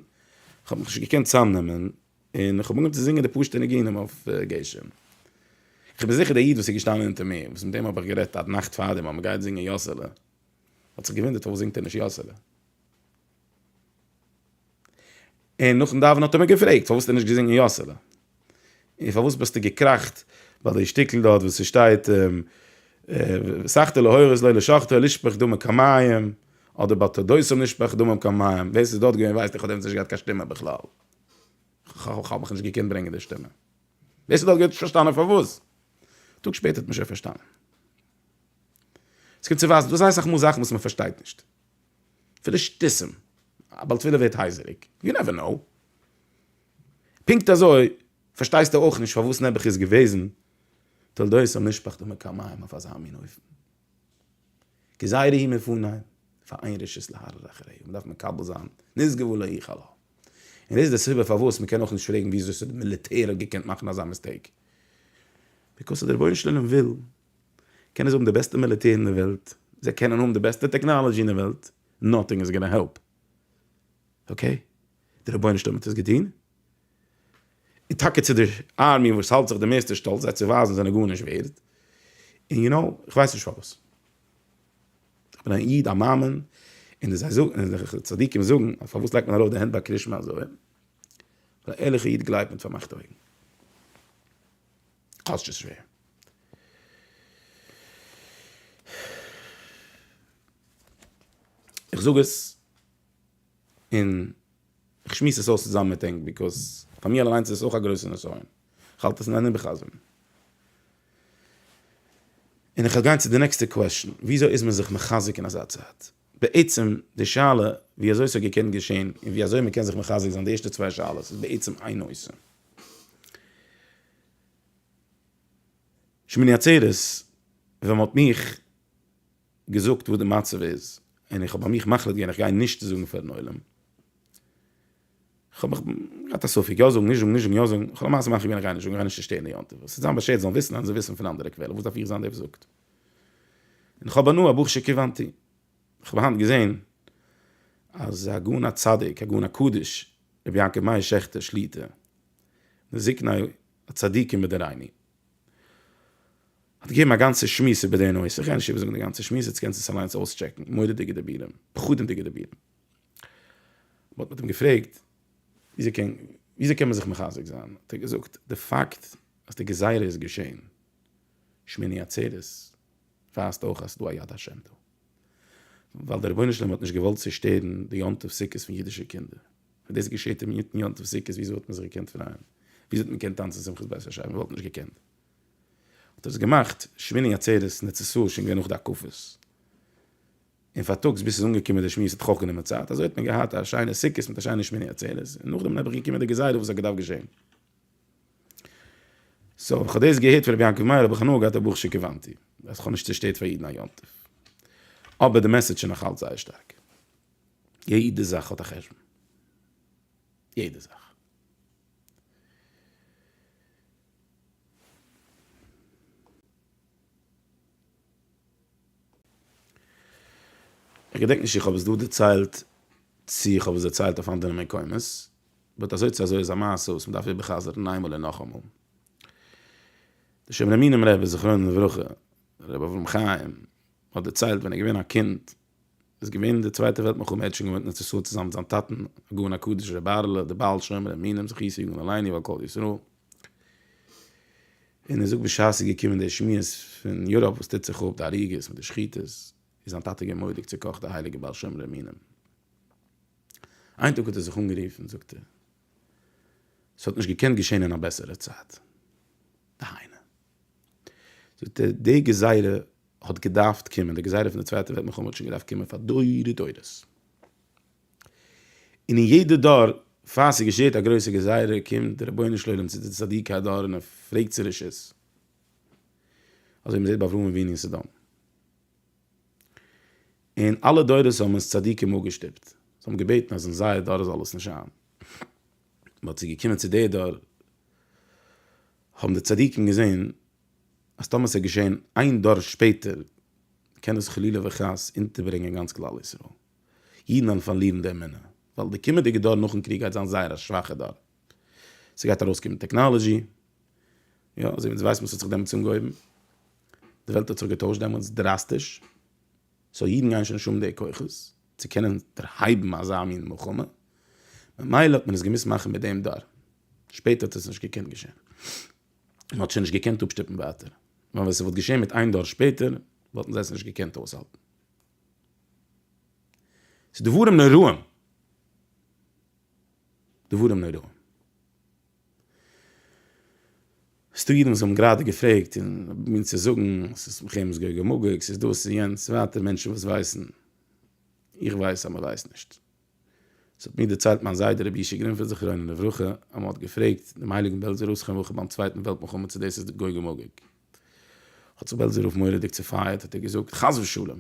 כ'האב מיך נישט געקענט צוזאמנעמען, און כ'האב אנגעהויבן צו זינגען די פשוט'ע ניגונים אויף גשם. כ'בין זיכער דער איד וואס איז געשטאנען אונטער מיר, וואס מיט אים האב איך גערעדט א נאכט פארדעם אז מ'גייט זינגען יאסעלע, האט זיך געוואונדערט פארוואס זינגט ער נישט יאסעלע. און נאכן דאווענען האט ער מיר געפרעגט פארוואס האסטו נישט געזינגען יאסעלע? און פארוואס ביסטו געקראכט ביי די שטיקל דארט וואס ס'שטייט סכתא להורות לא לשחטא לשפוך דמים כמים אדער ביי תודות נשפך דמים כמים, ווער ס'איז דארט געווען ווייסט איך האט דעמאלטס נישט געהאט קיין שטימע בכלל, כ'האב מיך נישט געקענט ברענגען די שטימע, ווער ס'איז דארט געווען האט נישט פארשטאנען פארוואס, א טאג שפעטער האט מען שוין פארשטאנען. ס'קומט צו ווייזן דא זייער אסאך מאל זאכן וואס מ'פארשטייט נישט. פון די שטותים, א בעל תפילה ווערט הייזעריג, יו נעווער נאו. פונקט אזוי פארשטייסטו אויך נישט פארוואס נעבעך איז געוועזן תולדות המשפחתא מקמיים אויף אזא מין אופן. גזירה היא מפוניים, פאר איין רשות להרהר אחריה, מען דארף מקבל זיין, נשגבו לא יחל ה. און דאס איז די סיבה פארוואס מען קען אויך נישט פרעגן וויאזוי ס'האט די מיליטער האט געקענט מאכן אזא מיסטעיק. ביקאוס אז די רבונו של עולם וויל קענען זיי האבן די בעסטע מיליטער אין די וועלט, זיי קענען האבן די בעסטע טעקנאלעדזשי אין די וועלט, נאטינג איז גאנא העלפ. אקעי, דער רבונו של עולם האט עס געטון, און טאקע צו די ארמי וואס האלט זיך די מערסטע שטאלץ זיי צו ווייזן זענען גארנישט ווערד, און יו נאו, איך ווייס נישט פארוואס. איך בין א איד א מאמין, און די זיי זאגן, און די צדיקים זאגן, אז פארוואס לייגט מען ארויף די הענט ביי קרישמע אזוי? ווייל א ערליכע איד גלייבט מיט פארמאכטע אויגן. כאטש ס'איז שווער. איך זאג עס און איך שמועס עס אויס צוזאמען מיט ענק ביקאוז פאר מיר אליינס איז עס אויך א גרויסע נסיון. איך האלט עס אין איינעם בחזר'ן. און איך וועל גיין צו די נעקסטע קוועשאן. וויאזוי איז מען זיך מחזק אין אזא צייט? בעצם די שאלה וויאזוי ס'האט געקענט געשען און וויאזוי מ'קען זיך מחזק זיין די ערשטע צוויי שאלות איז בעצם איין נושא. שמיני עצרת ווען מ'האט מיך געזאגט וואס די מצב איז, און איך האב ביי מיך מחליט געווען איך גיי נישט צו זאגן פארן עולם, כ'האב געהאט א ספק יא זאגן נישט זאגן נישט זאגן יא זאגן, כ'האב למעשה מחליט געווען איך גיי נישט זאגן איך גיי נישט צושטערן די יום טוב, עס איז זיין באשערט זאלן וויסן אז זיי וויסן פון אנדערע קוועלער וואס דארף איך זיין דער וואס זאגט, און איך האב הנאה ברוך שכיוונתי, איך האב היינט געזען אז הגאון הצדיק הגאון הקדוש רבי יעקב מאיר שעכטער שליטא מזקני הצדיקים בדורינו האט געגעבן א גאנצע שמועס איבער די נושא, כ'גיי נישט איבער זאגן די גאנצע שמועס, איצט קענסט עס אליינס אויסטשעקן, מורא'דיגע דיבורים, פחדים'דיגע דיבורים. מ'האט מיט אים געפרעגט וויאזוי קען מען זיך מחזק זיין, האט ער געזאגט, די פאקט אז די גזירה איז געשען שמיני עצרת ווייזט אויך אז ס'איז דא א יד השם דא, ווייל דער רבונו של עולם האט נישט געוואלט צושטערן די יום טוב סוכות פון אידישע קינדער. און דאס געשעהט אינמיטן יום טוב סוכות, וויאזוי וואלט מען זיך געקענט פרייען? וויאזוי האט מען געקענט טאנצן שמחת בית השי ת? מען וואלט נישט געקענט. האט ער עס געמאכט שמיני עצרת נ צ סאו שוין געווען נאך די הקפות. און פארטאגס ביז ס'איז אנגעקומען די שמועס האט ח ו גענומען צייט, אזוי האט מען געהאט א שיינע סוכות מיט א שיינע שמיני עצרת, און נאכדעם איז נעבעך געקומען די גזירה וואס האט געדארפט געשעהן. סאו ווען כ'האב דאס געהערט פון רבי יעקב מאיר האב איך הנאה געהאט אבער ברוך שכיוונתי אז כ'האב נישט צושטערט פאר אידן א יום טוב. אבער די מעסעדזש איז נאך אלץ זייער שטארק. יעדע זאך האט א חשבון, יעדע זאך. איך געדענק נישט צו איך האב עס דא דערציילט, צו איך האב עס דערציילט אויף אנדערע מקומות, באט אזוי צו אזוי איז א מעשה וואס מ'דארף איבער חזר'ן איינמאל און נאכאמאל. די שומרי מינים רבי זכרונו לברכה, רבי אברהם חיים, האט דערציילט ווען ער איז געווען א קינד, איז געווען אין די צווייטע וועלט מלחמה ער האט שוין געוואוינט אין ארץ ישראל צוזאמען מיט זיין טאטן הגאון הקדוש ר' בערעלע דער בעל שומרי אמונים זכי' יגן עלינו ועל כל ישראל, און ער זאגט בשעת עס איז געקומען די שמועות פון יוראפ וואס טוט זיך אפ די הריגות מיט די שחיטות איז זיין טאטע געווען מוראדיג צוקאכט דער הייליגער בעל שומרי אמונים איין טאג האט ער זיך אנגערופן זאגט ער. ס'האט נישט געקענט געשעהן אין א בעסערע צייט. דהיינו. זאגט ער, די גזירה האט געדארפט קומען, די גזירה פון די צווייטע וועלט מלחמה האט שוין געדארפט קומען פאר דורי דורות. און אין יעדע דור פאר ס'געשעהט א גרויסע גזירה קומט די רבונו של עולם צו די צדיקי הדור און ער פרעגט צו רשות. אזוי ווי מ'זעהט ביי אברהם אבינו אין סדום. און אלע דורות האבן עס צדיקים אפגעשטופט, זיי האבן געבעטן אז אין זייער דור זאל עס נישט זיין, באט ס'איז געקומען צו דער דור, האבן די צדיקים געזען אז טאמער ס'איז געשען איין דור שפעטער קען עס חלילה וחס אונטערברענגען גאנץ כלל ישראל, אידן וועלן פארלירן די אמונה, ווייל די קומענדיגע דור נאכן קריג גייט זיין זייער א שוואכע דור. ס'גייט ארויסקומען טעקנאלעזשי, יא, אזוי ווי אונז ווייסן וואס האט זיך דעמאלטס אנגעהויבן, די וועלט האט זיך געטוישט דעמאלטס דראסטיש, סאו אידן גייען שוין נישט האבן די כוחות צו קענען דערהייבן אזא מין מלחמה, ממילא האט מען עס געמוזט מאכן מיט דעם דור, שפעטער האט עס נישט געקענט געשען, מען האט שוין נישט געקענט אפשטופן ווייטער, ווייל ווען ס'וואלט געשען מיט איין דור שפעטער, וואלטן זיי עס נישט געקענט אויסהאלטן. ס'דברים נוראים! דברים נוראים. ס'דא אידן וואס האבן גראדע געפרעגט און מיר צו זאגן ס'איז מלחמת גוג ומגוג, ס'איז דאס און יענץ, ווייטער מענטשן וואס ווייסן, איך ווייס אז מ'ווייסט נישט. ס'האט מיר דערציילט מיין זיידע רבי ישי גרינפעלד זכרונו לברכה אז מ'האט געפרעגט דעם הייליגן בעלזער ראש חנ וכ ביים צווייטן וועלט מלחמה צו דאס איז גוג ומגוג. האט זיך בעלזער רב מורא'דיג צופייערט האט ער געזאגט חס ושלום!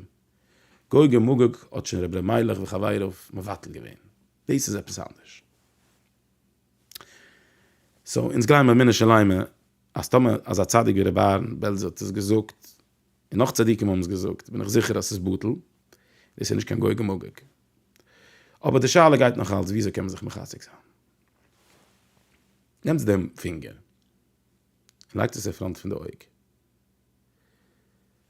גוג ומגוג האט שוין רבי אלימלך וחבריו מבטל געווען. דאס איז עפעס אנדערש. סאו אונז גלייבן באמונה שלימה אז טאמער אזא צדיק ווי רבי אהרן בעלזער האט עס געזאגט, און נאך צדיקים האבן עס געזאגט, בין איך זיכער אז ס'איז בטל, דאס איז נישט קיין גוג ומגוג. אבער די שאלה גייט נאך אלץ וויאזוי קען מען זיך מחזק זיין. נעמטס דעם פינגער און לייגטס עס אין פראנט פון די אויג.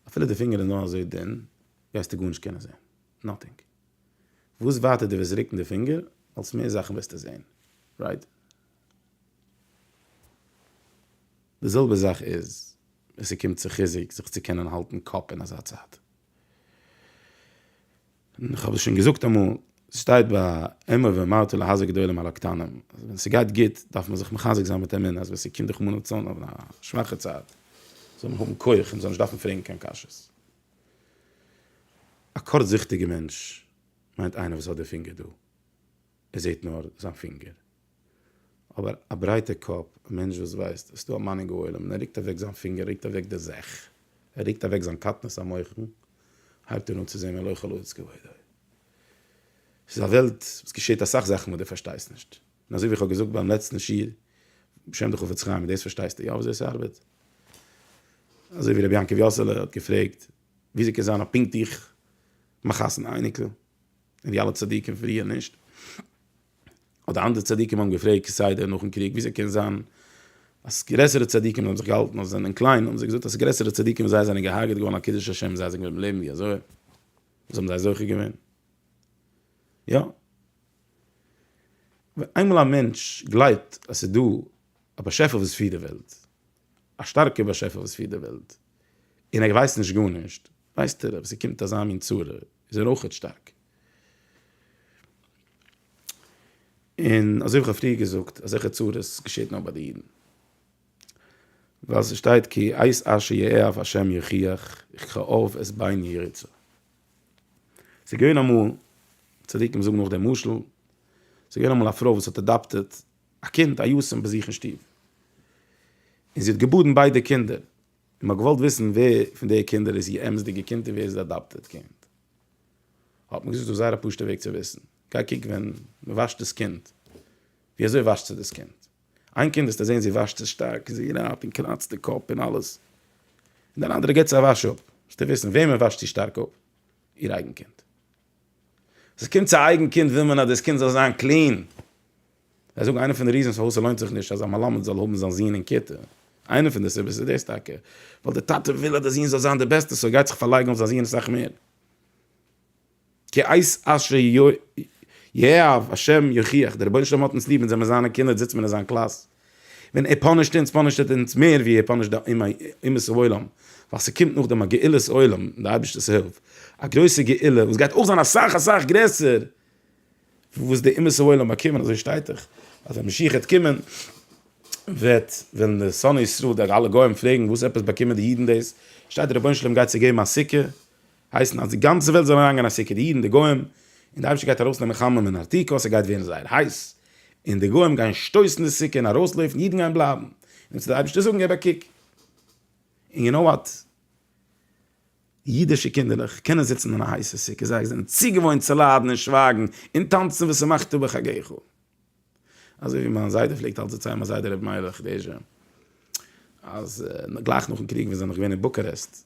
אפילו די פינגער איז נאר אזוי דין, גייסטו גארנישט קענען זען. נאטינג. וואס ווייטער דו וועסט רוקן די פינגער אלס מער זאכן וועסטו זען, רייט? די זעלבע זאך איז ווען ס'קומט צו חיזוק זיך צו קענען האלטן קאפ אין אזא צייט. איך האב דאס שוין געזאגט אמאל, ס'שטייט ביי אמר ואמרתי להזהר גדולים על הקטנים, אז ווען ס'גייט גוט דארף מען זיך מחזק זיין מיט אמונה אז ווען ס'קומט רחמנא לצלן אויף א שוואכע צייט זאל מען האבן כח און מ'זאל נישט דארפן פרעגן קיין קשיות. א קורצזיכטיגע מענטש מיינט איינער וואס האט די פינגער דא ער זעט נאר זיין פינגער, אבער א ברייטע קאפ א מענטש וואס ווייסט עס איז דא א מנהיג העולם און ער ריקט אוועק זיין פינגער ריקט אוועק די זעך ער ריקט אוועק זיין קטנות המוחין הייבט ער אן צו זען מלא חלאות כבודו ס'איז א וועלט וואס געשעט אסאך זאכן וואס די פארשטייסט נישט. און אזוי ווי איך האב געזאגט ביים לעצטן שיעור בשם די חפץ חיים, דאס פארשטייסטו יא וויאזוי עס ארבעט? אזוי ווי רבי יעקב יאסעלע האט געפרעגט וויאזוי קען זיין אז פונקט איך מאך חתונה אייניקל און די אלע צדיקים פריער נישט? אדער אנדערע צדיקים האבן געפרעגט כסדר נאכן קריג וויאזוי קען זיין אז גרעסערע צדיקים האבן זיך געהאלטן אז זיי זענען קליין האבן זיי געזאגט אז גרעסערע צדיקים ווי זיי זענען געהארגעט געווארן על קידוש השם זיי זענען געבליבן לעבן ווי אזוי וואס האבן זיי זוכה געווען? יא ווען איינמאל א מענטש גלייבט אז ס'איז דא א באשעפער וואס פירט די וועלט, א שטארקער באשעפער וואס פירט די וועלט, און ער ווייסט נישט גארנישט, ווייסט ער אז ס'קומט אזא מין צרה, איז ער אויכעט שטארק. און אזוי ווי כ'האב פריער געזאגט, אזעלכע צרות געשעט נאר ביי די אידן. ווייל ס'שטייט כי עת אשר יאהב ה' יוכיח, וככאוהב את בני יריצה. ס'איז געווען אמאל, צדיקים זאגן נאך דעם משל, ס'איז געווען אמאל א פרוי וואס האט אדאפטעט א קינד א יתום ביי זיך אין שטוב, און זי האט געבאדן ביידע קינדער, און מ'האט געוואלט וויסן ווער פון די קינדער איז איר אמת'דיגע קינד און ווער איז די אדאפטעט קינד, האט מען געזאגט ס'איז דא זייער א פשוט'ע וועג צו וויסן, גיי קוק ווען מ'וואשט דאס קינד, ווי אזוי וואשט זיך דאס קינד? איין קינד וועסטו זען זי וואשט זיך שטארק, זי רייבט און קראצט די קאפ און אלעס, און דיין אנדערע געבט זי א וואש אפ, וועסטו וויסן וועמען וואשט זי שטארק אפ, איר אייגן קינד. ווען ס'קומט צו א אייגן קינד וויל מען אז דאס קינד זאל זיין קלין. זיי זאגן איינע פון די ריזענס פארוואס ס'לוינט זיך נישט אז א מלמד זאל האבן זיין זון אין כיתה, איינע פון די סיבות איז דאס טאקע, ווייל דער טאטע וויל אז דער זון זאל זיין דער בעסטער, סאו ער גייט זיך פארלייגן אויף זיין זון אסאך מער. כי אייס אשר יאהב השם יוכיח, דער רבונו של עולם האט אונז ליב אונז זעמער זיינע קינדער זיצט מען אין זיין קלאס, ווען ער פאנישט אונז פאנישט ער אונז מער ווי ער פאנישט די אומות העולם, ווייל ס'קומט נאכדעם א גאולת עולם מיט די אייבערשטער'ס הילף, א גרויסע גאולה וואס גייט אויך זיין אסאך אסאך גרעסער פון וואס די אומות העולם באקומען, אזוי שטייט דאך אז ווען משיח וועט קומען וועט וועלן די שונאי ישראל די אלע גוים פרעגן וואס עפעס באקומען די אידן דאס, שטייט דער רבונו של עולם גייט צו געבן א סוכה. הייסן אז די גאנצע וועלט זאל אריינגיין א סוכה, די אידן, די גוים, און די אייבערשטער גייט ארויסנעמען חממה מן העתיקות, ס'גייט ווערן זייער הייס, און די גוים גייען שטויסן די סוכה און ארויסלויפן, אידן גייען בלייבן, און צו די אייבערשטער זאגן געב א קוק, און יו נאו וואט, אידישע קינדערלעך קענען זיצן אין א הייסע סוכה, זיי זענען צוגעוואוינט צו ליידן און שווייגן און טאנצן ושמחת בחגיך, אזוי ווי מיין זיידע פלעגט אלץ דערציילן, מיין זיידע רבי מאיר בעריש זי ע, אז גלייך נאכן קריג ווען זיי זענען נאך געווען אין בוקארעסט,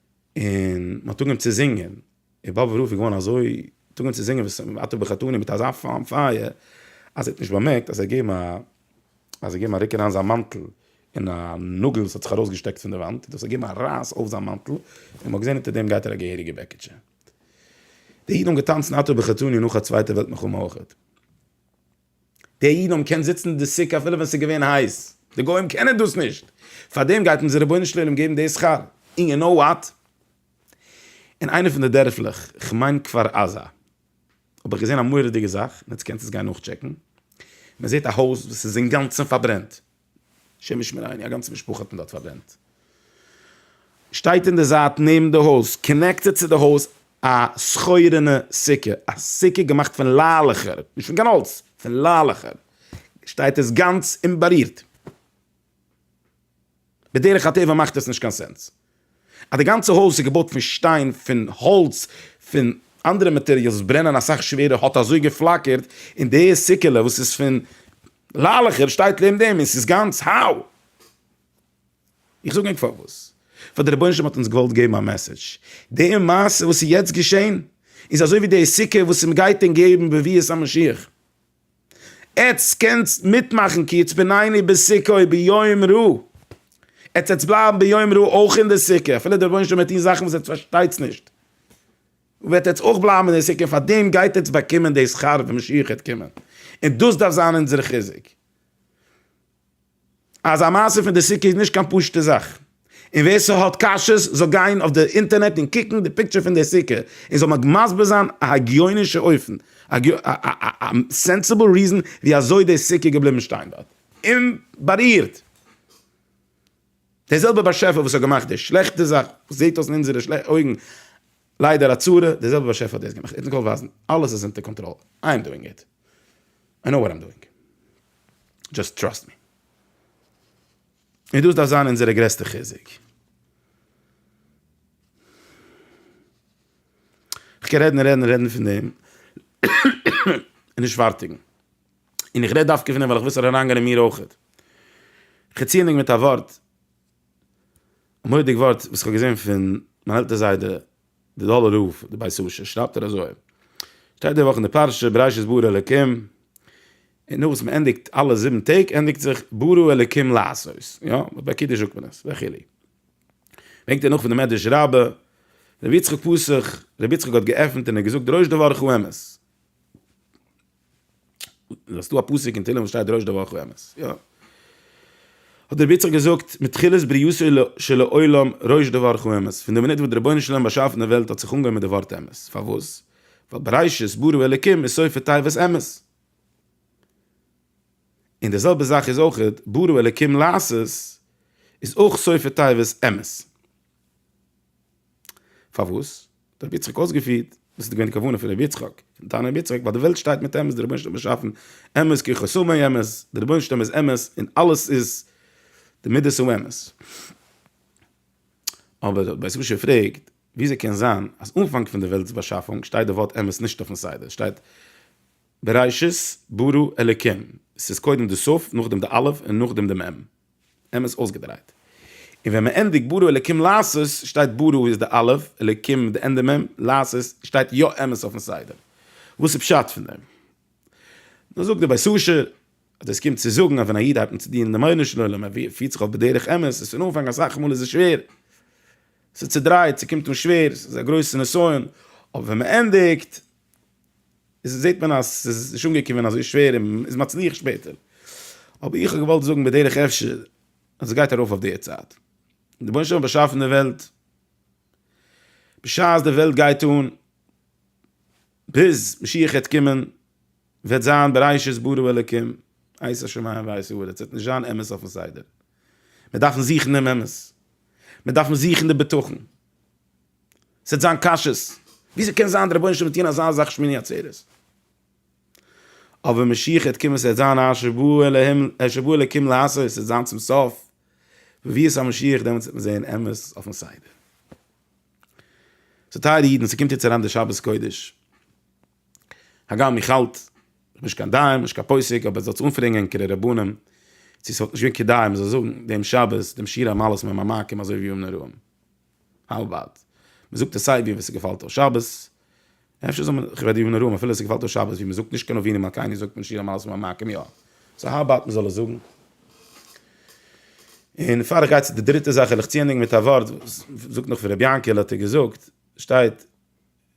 און מען האט אנגעהויבן צו זינגען, און באבוב רב איז געווארן אזוי, מען האט אנגעהויבן צו זינגען ואתה בחתוני מיט אזא פאן פייער, אז ער האט נישט באמערקט אז זיי געבן א, אז זיי געבן א ריק אריין זיין מאנטל אין א נאגל וואס האט זיך ארויסגעשטעקט פון די וואנט, און דאס האט געגעבן א רייס אויף זיין מאנטל, און מען האט געזען אונטער דעם גייט ער א געהעריגע בעקיטשע. די אידן האבן געטאנצן אתה בחתוני נאך א צווייטע וועלט מלחמה אויך. די אידן האבן געקענט זיצן אין די סוכה אפילו ווען עס איז געווען הייס, די גוים קענען דאס נישט, פארדעם גייט אונזער רבונו של עולם געבן די שכר, און יו נאו וואט? אין איינע פון די דערפלעך, כ'מיין כפר עזה, האב איך געזען א מורא'דיגע זאך, און יעצט קענסט עס גיין נאכטשעקן, מען זעט א הויז וואס איז אינגאנצן פארברענט, השם ישמריני, א גאנצע משפחה האט מען דארט פארברענט. שטייט אין די זייט נעבן די הויז, קאנעקטעד צו די הויז, א שחור'ענע סוכה, א סוכה געמאכט פון לעלעכער, נישט פון קיין האלץ, פון לעלעכער, שטייט עס גאנץ אומבארירט. בדרך הטבע מאכט עס נישט קיין סענס. אז די גאנצע הויז איז געבויט פון שטיין, פון האלץ, פון אנדערע מאטעריאלס וואס ברענען אסאך שווערער, האט אזוי געפלאקערט, און די סוכה'לע וואס איז פון לעלעכער שטייט לעבן דעם, און ס'איז גאנץ האו! איך זאג ענק פארוואס? ווייל דער רבונו של עולם האט אונז געוואלט געבן א מעסעדזש. די מעשה וואס איז יעצט געשען, איז אזוי ווי די סוכה וואס מ'גייט ענק געבן בביאת המשיח. עטס קענסט מיטמאכן כי עטס בינני בסוכה' ביום רו, עטס עטס בלייבן ביום רו אויך אין די סוכה אפילו דער רבונו של עולם וועט טון זאכן וואס עטס פארשטייטס נישט, וועט עטס אויך בלייבן אין די סוכה, פאר דעם גייט עטס באקומען די שכר ווען משיח העט קומען, און דאס דארף זיין אונזער חיזוק. אז א מעשה פון די סוכה איז נישט קיין פשוטע זאך, און ווער ס'האט קשיות זאל גיין אויף די אינטערנעט און קוקן די פיקטשער פון די סוכה און זאל מיר מסביר זיין א הגיונישע אופן, א סענסיבל ריזען ווי אזוי די סוכה איז געבליבן שטיין דארט אומבארירט. דער זעלבער באשעפער וואס האט געמאכט די שלעכטע זאך וואס זעט אויס אין אונזערע אויגן ליידער א צרה, דער זעלבער באשעפער האט דאס געמאכט, איך קען אויך ווייזן, אלעס איז אונטער קאנטראל, איי עם דואינג איט, איי נאו וואט איים דואינג, דזשאסט טראסט מי. און דאס דארף זיין אונזערע גרעסטע חיזוק. איך קען רעדן און רעדן און רעדן פון דעם און נישט פארטיגן. און איך רעד דווקא פון אים ווייל איך וויל ס'זאל אריינגיין אין מיר אויך. כ'ציענדיג מיט א ווארט, א מורא'דיג ווארט וואס כ'האב געזען פון מיין עלטער זיידע די דאלער רב די בית אשר שרייבט ער אזוי, שטייט די וואך אין די פרשה בראשית ברא אלקים, און נאך וואס מען ענדיגט אלע זיבן טעג ענדיגט זיך ברא אלקים לעשות, יא ביי קידוש זאגט מען עס וכו'. ברענגט ער נאך פון די מדרש רבה, רבי יצחק פסח, רבי יצחק האט געעפנט און ער האט געזאגט דרשו דבר חו אמת. איז דא א פסוק אין תהלים וואס שטייט דרוש דבר חו אמת יא האט דער רביצער געזאגט מתחילת בריאתו של העולם דרוש דבר חו אמת פון די מינוט וואס דער רבונו של עולם באשאפן די וועלט האט זיך אנגעהויבן מיט די ווארט אמת פארוואס ווייל בראשית ברא אלקים איז סוף תיבת אמת און די זעלבע זאך איז אויכעט ברא אלקים לעשות איז אויך סוף תיבת אמת. פארוואס? האט ר' יצחק אויסגעפירט וואס איז געווען די כוונה פון ר' יצחק, פון תנא ר' יצחק, ווייל די וועלט שטייט מיט אמת, דער רבונו של עולם האט באשאפן אמת כי כל שמאי אמת, דער רבונו של עולם איז אמת און אלעס איז די מידות האמת. אבער האט בית רשי געפרעגט, וויאזוי קען זיין אז אנפאנג פון די וועלט'ס באשאפונג שטייט די ווארט אמת נישט אויפן סדר, שטייט בראשית ברא אלקים, עס איז קודם די סוף, נאכדעם די אלף און נאכדעם די מ'. נעם עס אויסגעדרייט. און ווען מען ענדיגט ברא אלקים לעשות, שטייט ברא איז די אלף, אלקים איז די ענדע מ', לעשות שטייט יא אמת אויפן סדר. וואס איז פשט פון דעם? נו זאגט דער בית אשר אז דאס קומט צו זאגן אז ווען א איד הייבט אן צו דינען דעם רבונו של עולם, ער פירט זיך אויף בדרך אמת, איז פון אנפאנג אסאך מאל איז עס שווער, ס'איז צעדרייט, ס'קומט אן שווער, ס'איז א גרויסע נסיון, אבער ווען מען ענדיגט, איז זעט מען אז עס איז נישט אנגעקומען אזוי שווער און מען איז מצליח שפעטער. אבער איך האב געוואלט זאגן בדרך אפשר אז עס גייט ארויף אויף די צייט. די רבונו של עולם האט באשאפן די וועלט, בשעת די וועלט גייט אן, ביז משיח וועט קומען, וועט זיין בראשית ברא אלקים, עשה שמים וארץ, עס וועט נישט זיין אמת אויפן סדר. מיר דארפן זוכן דעם אמת. מיר דארפן זוכן די בטחון. ס'עט זיין קשיות, וויאזוי קען זיין די רבונו של עולם וועט טון אזא זאך שמיני עצרת? אבער ווען משיח העט קומען ס'עט זיין א שבו אלהים א שבו אלקים לעשות ס'עט זיין צום סוף בביאת המשיח דעמאלטס וועט מען זעהן אמת אויפן סדר. סאו טייערע אידן ס'קומט יעצט אריין די שבת קודש, הגם איך האלט, כ'בין נישט קיין דיין, נישט קיין פוסק, אבער זאלטס אנפרעגן ענקערע רבנים צו ס'וואלט נישט געווען כדאי מ'זאל זאגן דעם שבת דעם שיר המעלות מהמעמקים אזוי ווי ימים נוראים. האו אבאוט מען זאגט עס סיי ווי ווען ס'געפאלט אויס שבת, אפשר זאל מען כבד ימים נוראים אפילו ס'געפאלט אויס שבת ווי מען זאגט נישט קיין אבינו מלכינו זאגט מען שיר המעלות ומעמקים יא, סאו האו אבאוט מען זאל עס זאגן. און פאר איך גיי צו די דריטע זאך וויל איך צוענדיגן מיט א ווארט וואס זאגט נאך פון ר' יענקעלע האט ער געזאגט, שטייט,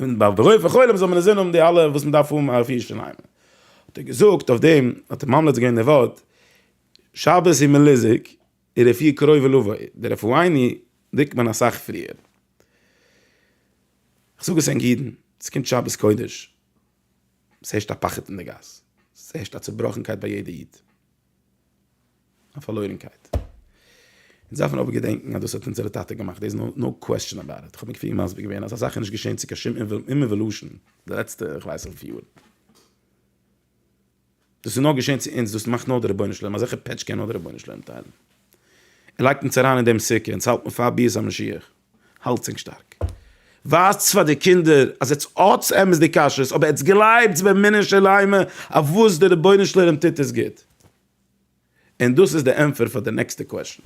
און באלד דערויף וכו' זאל מען אינזין האבן די אלע וואס מען דארף האבן אויף ירושלים. האט ער געזאגט אויף דעם, האט ער ממליץ געווען די ווארט, שבת איז מען ליזיג, און רפואה קרובה לבוא, די רפואיני דרוקט מען אסאך פריער. איך זאג עס ענק אידן, עס קומט שבת קודש, עס הערשט א פחד אין די גאס, עס הערשט א צובראכנקייט ביי יעדע איד. א פארלוירנקייט. אונז דארפן אבער געדענקן אז דאס האט אונזערע טאטע געמאכט, דעיס איז נאו קוועסטשען אבאוט איט. איך האב מיר כפיר מסביר געווען אז אזאך איז נישט געשען צו קיין שום איוועלושען די לעצטע איך ווייס וויפיל יאר. דאס איז נאר געשען צו אונז, דאס מאכט נאר דער רבונו של עולם, אזעלכע פעטש קען נאר דער רבונו של עולם טיילן. ער לייגט אונז אריין אין דעם סוכה, אונז האלט מיר פאר ביאת המשיח. האלטס ענק שטארק. ווייזטס פאר די קינדער אז עטס האטס אמת די כשרות, אבער עטס גלייבטס באמונה שלימה אויף וואס די רבונו של עולם טוט עס גוט. און דאס איז די ענטפער פאר די נעקסטע קוועשאן.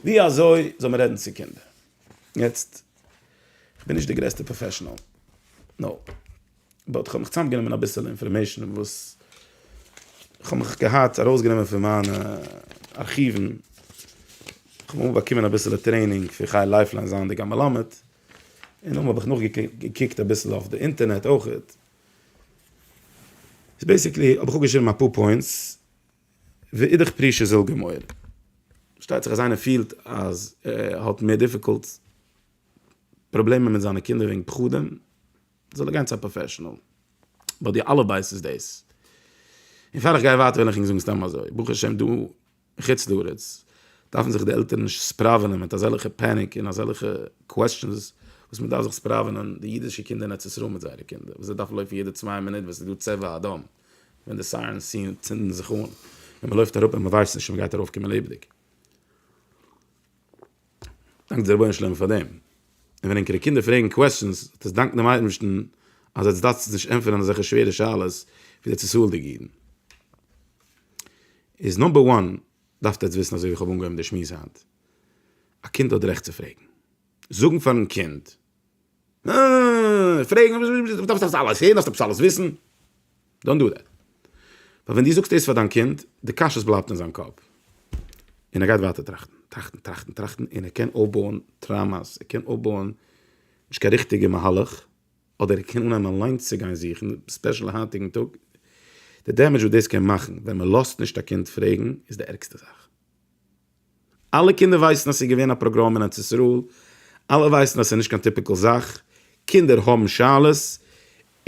ווי אזוי זאל מען רעדן צו קינדער? יעצט, כ'בין נישט די גרעסטע פראפעשאנעל, נאופ. באט כ'האב מיך צוזאמגענומען אביסעלע אינפארמעישן וואס כ'האב מיך געהאט ארויסגענומען פון מיינע ארכיוון, כ'האב אמאל באקומען אביסעלע טרעינינג פון חי לייפליין זייענדיג א מלמד, און אמאל האב איך נאכגעקוקט אביסל אויף די אינטערנעט אויכעט. סאו בעיסיקלי האב איך אפגעשריבן אפאר פוינטס, ואידך פרישא זיל גמור. פארשטייט זיך אז איינער פילט אז ער האט מער דיפיקולטס, פראבלעמען מיט זיינע קינדער וועגן פחדים, זאל ער גיין צו א פראפעשענעל, ביי די אלע בית איז דאס. און פאר איך גיי ווייטער וויל איך ענק זאגן סתם אזוי, ברוך השם דא אין חוץ לארץ דארפן זיך די עלטערן נישט ספראווענען מיט אזעלכע פעניק און אזעלכע קוועסטשענס וואס מען דארף זיך ספראווענען די אידישע קינדער אין ארץ ישראל מיט זייערע קינדער וואס זיי דארפן לויפן יעדע צוויי מינוט ווען ס'איז דא צבע אדום ווען די סיירענס ציען צינדן זיך אן און מען לויפט אראפ און מען ווייסט נישט צו מען גייט ארויפקומען לעבעדיג. דאנק די רבונו של עולם פאר דעם, און ווען ענקערע קינדער פרעגן קוועסטשענס, האט עס דאנקן דעם אייבערשטן אז עטס דארפטס נישט ענטפערן אזעלכע שווערע שאלות ווי די צעזאלדיגע אידן. איז נאמבער וואן דארפט עטס וויסן אזוי ווי איך האב אנגעהויבן די שמועס היינט, א קינד האט די רעכט צו פרעגן. זאגן פארן קינד. אה, פרעגן וואס איז, דו דארפסט עפעס אלעס הערן, דארפסט עפעס אלעס וויסן, דאנט דא דעט. ווייל ווען דו זאגסט דאס פאר דיין קינד, די קשיות בלייבט אין זיין קאפ. און ער גייט ווייטער טראכטן, טראכטן, טראכטן, טראכטן, און ער קען אויפבויען טראומא'ס, ער קען אויפבויען נישט קיין ריכטיגע מהלך, אדער ער קען אנהייבן אליינס צו גיין זוכן, ספעשעל היינטיגן טאג. די דעמעדזש וואס דאס קען מאכן ווען מען לאזט נישט א קינד פרעגן, איז די ערגסטע זאך. אלע קינדער ווייסן אז ס'איז געווען א פראגראם אין ארץ ישראל, אלע ווייסן אז ס'איז נישט קיין טיפיקעל זאך, קינדער האבן שאלות,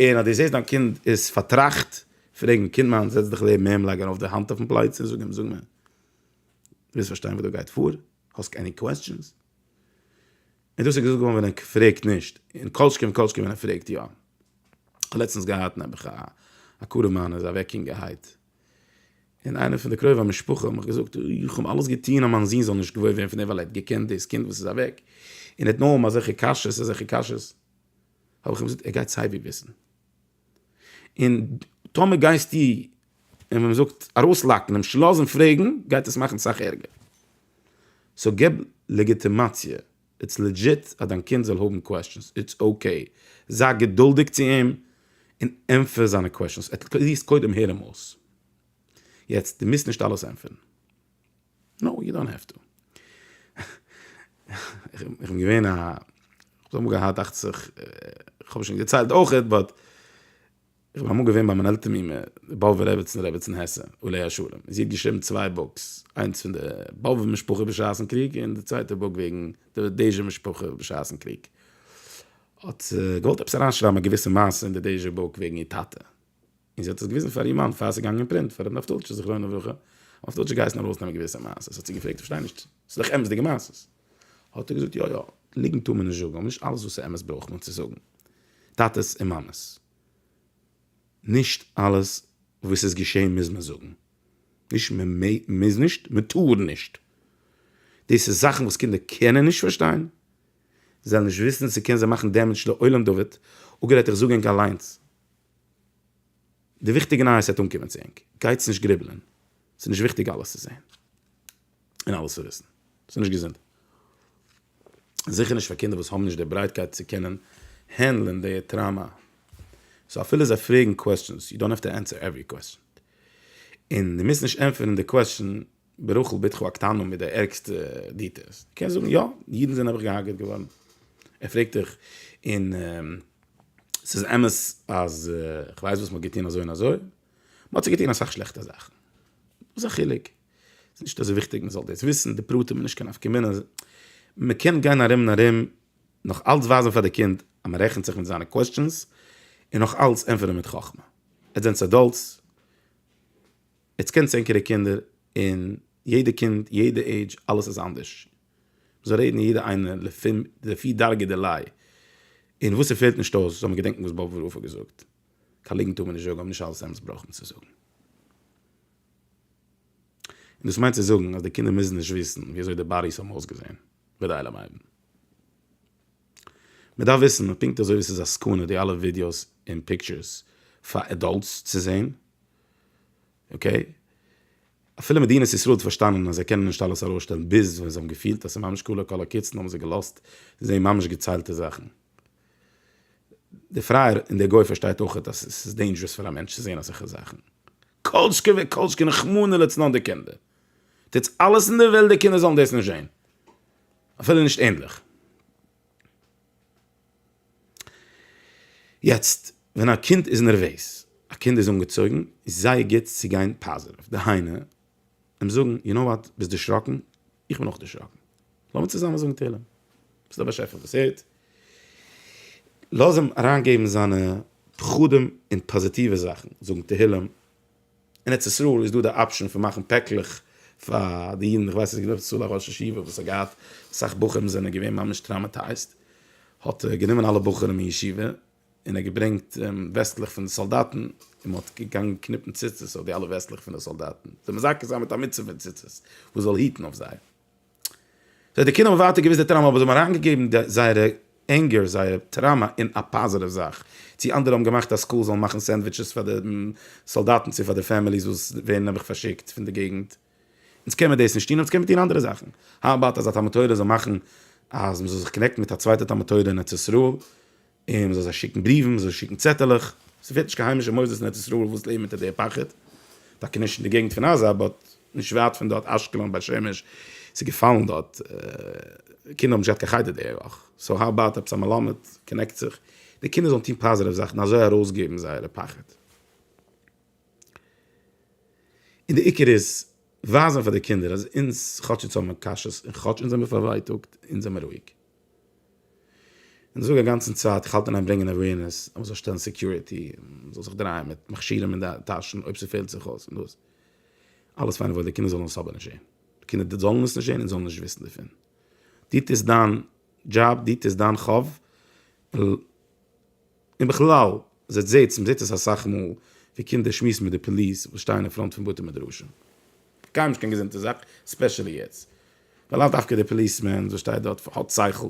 און אז דו זעסט דיין קינד איז פארטראכט, פרעג אים, קינד מיין זעץ דיך לעבן אים, לייג ארויף די האנט אויפן פלייצע און זאג אים, זאג מיר, דו ווילסט פארשטיין וואס דא גייט פאר? האסט עני קוועסטשענס? און דאס איז געזאגט געווארן ווען ער פרעגט נישט, און כל שכן וכל שכן ווען ער פרעגט יא. כ'האב לעצטנס געהאט נעבעך א קרוב מיינער איז אוועק יונגערהייט. און איינער פון די קרובי המשפחה האט מיך געזאגט, איך האב אלעס געטון אז מיין זון זאל נישט געוואויר ווערן פון דעם ווייל ער האט געקענט דאס קינד וואס איז אוועק, און ער האט נאר אזעלכע קשיות אזעלכע קשיות, האב איך אים געזאגט ער גייט סייווי וויסן, און טאמער גייסטו אים ווי מען זאגט ארויסלאקן אים שלאזן פרעגן גייט עס מאכן סאך ערגער, סאו געב לעגיטימאציע איטס לעדזשיט אז דיין קינד זאל האבן קוועסטשענס, איטס אקעי, זיי געדולדיג צו אים און ענטפער זיינע קוועסטשענס, עטליעסט קודם הער אים אויס, יעצט דו מוזט נישט אלעס ענטפערן, נאו יו דאנט העוו טו, איך בין געווען א, איך האב געהאט דאכט זיך, איך האב עס שוין געציילט אויכעט, באט. איך בין אמאל געווען ביי מיין עלטער מומע די באבובער רעבעצן רעבעצן העסע עליה השלום און זי האט געשריבן צוויי בוקס איינס פון די באבובער משפחה בשעת'ן קריג און די צווייטע בוק וועגן די דעזשער משפחה בשעת'ן קריג האט זי געוואלט עפעס אריינשרייבן א געוויסע מעשה אין די דעזשער בוק וועגן איר טאטע און זי האט עס געוויזן פאר איר מאן פאר עס איז געגאנגען אין פרינט פאר ר' נפתל'טשע זכרונו לברכה ר' נפתל'טשע איז געהייסן ארויסנעמען געוויסע מעשות האט זי געפרעגט איך פארשטיי נישט ס'איז דאך אמת'דיגע מעשות האט ער געזאגט יא יא ליגנט טאר מען נישט זאגן אבער נישט אלעס וואס איז אמת ברויך מען צו זאגן טאטעס און מאמעס. נישט אלעס וואס איז געשעהן מוז מען זאגן, נישט מען מוז נישט, מען טאר נישט, דאס איז זאכן וואס קינדער קענען נישט פארשטיין, זיי וועלן נישט וויסן, ס'קען זיי מאכן דעמעדזש לעולם דוד, אפגערעדט איך זאג ענק אליינס, די וויכטיגע נייעס וועט אנקומען צו ענק, גייטס נישט גריבלען, ס'נישט וויכטיג אלעס צו זעהן. און אלעס צו וויסן. ס'איז נישט געזונט. זיכער נישט פאר קינדער וואס האבן נישט די ברייטקייט צו קענען הענדלען די טראמא. סאו אפילו זיי פרעגן קוועסטשענס, יו דאנט האוו טו ענסער עווערי קוועסטשען. און דו מוזט נישט ענטפערן די קוועסטשען ברחל בתך הקטנה מיט די ערגסטע דיטעילס. דו קענסט זאגן, יא, אידן זענען נעבעך געהארגעט געווארן. ער פרעגט דיך, און ס'איז אמת אז כ'ווייס וואס מ'האט געטון אזוי און אזוי? מ'האט צו געטון אסאך שלעכטע זאכן. וואס איז א חילוק? ס'איז נישט אזוי וויכטיג מען זאל דאס וויסן, די פרטים איז נישט קיין נפקא מינה, מען קען גיין ארום און ארום, נאך אלץ ווייזן פאר די קינד אז מען רעכנט זיך מיט זיינע קוועסטשענס, און נאך אלץ ענטפערן מיט חכמה. עטס זענטס עדאלטס, עטס קענטס ענקערע קינדער, און יעדע קינד, יעדע עידזש, אלעס איז אנדערש, מען זאל רעדן יעדע איינער לפי דרגא דילאי, און וואס ס'פעלט נישט אויס זאל מען געדענקן וואס באבע רפא האט געזאגט, קיין ליגנט טאר מען נישט זאגן אבער נישט אלעס אמת ברויך מען צו זאגן. און דאס מיינט צו זאגן אז די קינדער מוזן נישט וויסן ווי אזוי די באדיס האבן אויסגעזען, ודאי לא מיידן. מען דארף וויסן, פונקט אזוי ווי ס'איז א סכנה די אלע ווידיאוס און פיקטשערס פאר עדאלטס צו זען, אקעי? אפילו מדינת ישראל האט פארשטאנען אז זיי קענען נישט אלעס ארויסשטעלן ביז ווען זיי האבן געפילט אז ס'איז ממש כלה כל הקיצין האבן זיי געלאזט זען ממש געציילטע זאכן. די פרייער און די גוי פארשטייט אויכעט אז ס'איז דעינדזשרעס פאר א מענטש צו זען אזעלכע זאכן. כל שכן וכל שכן רחמנא לצלן די קינדער. טוטס אלעס אין דער וועלט די קינדער זאלן דאס נישט זען. אפילו נישט ענדליך. יעצט, ווען א קינד איז נערוועז, א קינד איז אנגעצויגן, איז זייער גוט צו גיין פאזיטיוו. דהיינו, אים זאגן, יו נאו וואט, ביסט דערשראקן? איך בין אויך דערשראקן. לאמיר צוזאמען זאגן תהילים. ס'איז דער באשעפער וואס הערט. לאז אים אריינגעבן זיינע פחדים און פאזיטיווע זאכן, זאגן תהילים. אין ארץ ישראל איז דא די אפשען פון מאכן פעקלעך פאר די אידן, איך ווייס נישט גענוי צו א ראש ישיבה וואס האט געהאט, אסאך בחורים זענען געווען ממש טראמעטייזט, האט גענומען אלע בחורים אין ישיבה און ער האט געברענגט וועסטלעך פון די סאלדאטן, און מ'האט געגאנגען קניפן ציצית אויף די אלע וועסטלעך פון די סאלדאטן, זיי מזכה זיין מיט א מצבה פון ציצית וואס זאל היטן אויף זיי. סאו די קינדער האבן ווייטער געוויסט די טראמא, אבער זיי האבן אריינגעגעבן זייערע ענגער, זייער טראמא אין א פאזיטיוו זאך, צי אנדערע האבן געמאכט אז סקולס זאלן מאכן סענדוויטשעס פאר די סאלדאטן צו פאר די פעמיליס וואס ווערן נעבעך פארשיקט פון די געגנט, אונז קען מיט דאס נישט טון אבער אונז קען מיט טון אנדערע זאכן. האו אבאוט אז א תלמוד תורה זאל מאכן אז מ'זאל זיך קאנעקטן מיט א צווייטע תלמוד תורה אין ארץ ישראל און מ'זאל זיי שיקן בריוון, מ'זאל זיי שיקן צעטעלעך. ס'פעלט נישט קיין היימישע מוסדות אין ארץ ישראל וואס לעבן אונטער די פחד. טאקע נישט אין די געגנט פון עזה באט נישט ווייט פון דארט אשקלון, בית שמש, ס'איז געפאלן דארט. קינדער האבן נישט געהאט קיין חדר די וואך. סאו האו אבאוט עפעס א מלמד קאנעקט זיך, די קינדער זאלן טון פאזיטיוו זאכן אזוי ארויסגעבן זייערע פחד. און די עיקר איז ווייזען פאר די קינדער אז אונז כאטש אונז האבן קשיות און כאטש אונז זעמער פארווייטאגט אונז זעמער רואיג. און זאג אגאנצן צייט איך האלט און ברענגען אווערנעס אז מ'זאל שטעלן סעקיוריטי און מ'זאל זיך דרייען מיט מכשירים און טאשן אויב ס'פעלט זיך אויס און דאס אלעס פיין און וואויל די קינדער זאלן עס אבער נישט זעהן די קינדער זאלן עס נישט זעהן און זאלן נישט וויסן דערפון דו טוסט דיין דזשאב דו טוסט דיין חוב ל. און בכלל, זעט זעטס, מען זעט עס אסאך מאל, ווי קינדער שמועסן מיט די פאליס וואס שטייען אין פראנט פון בתי מדרשים. קיינמאל נישט קיין געזונטע זאך, ספעשעלי יעצט. ווייל לאו דווקא דער פאליסמען וואס שטייט דארט האט שכל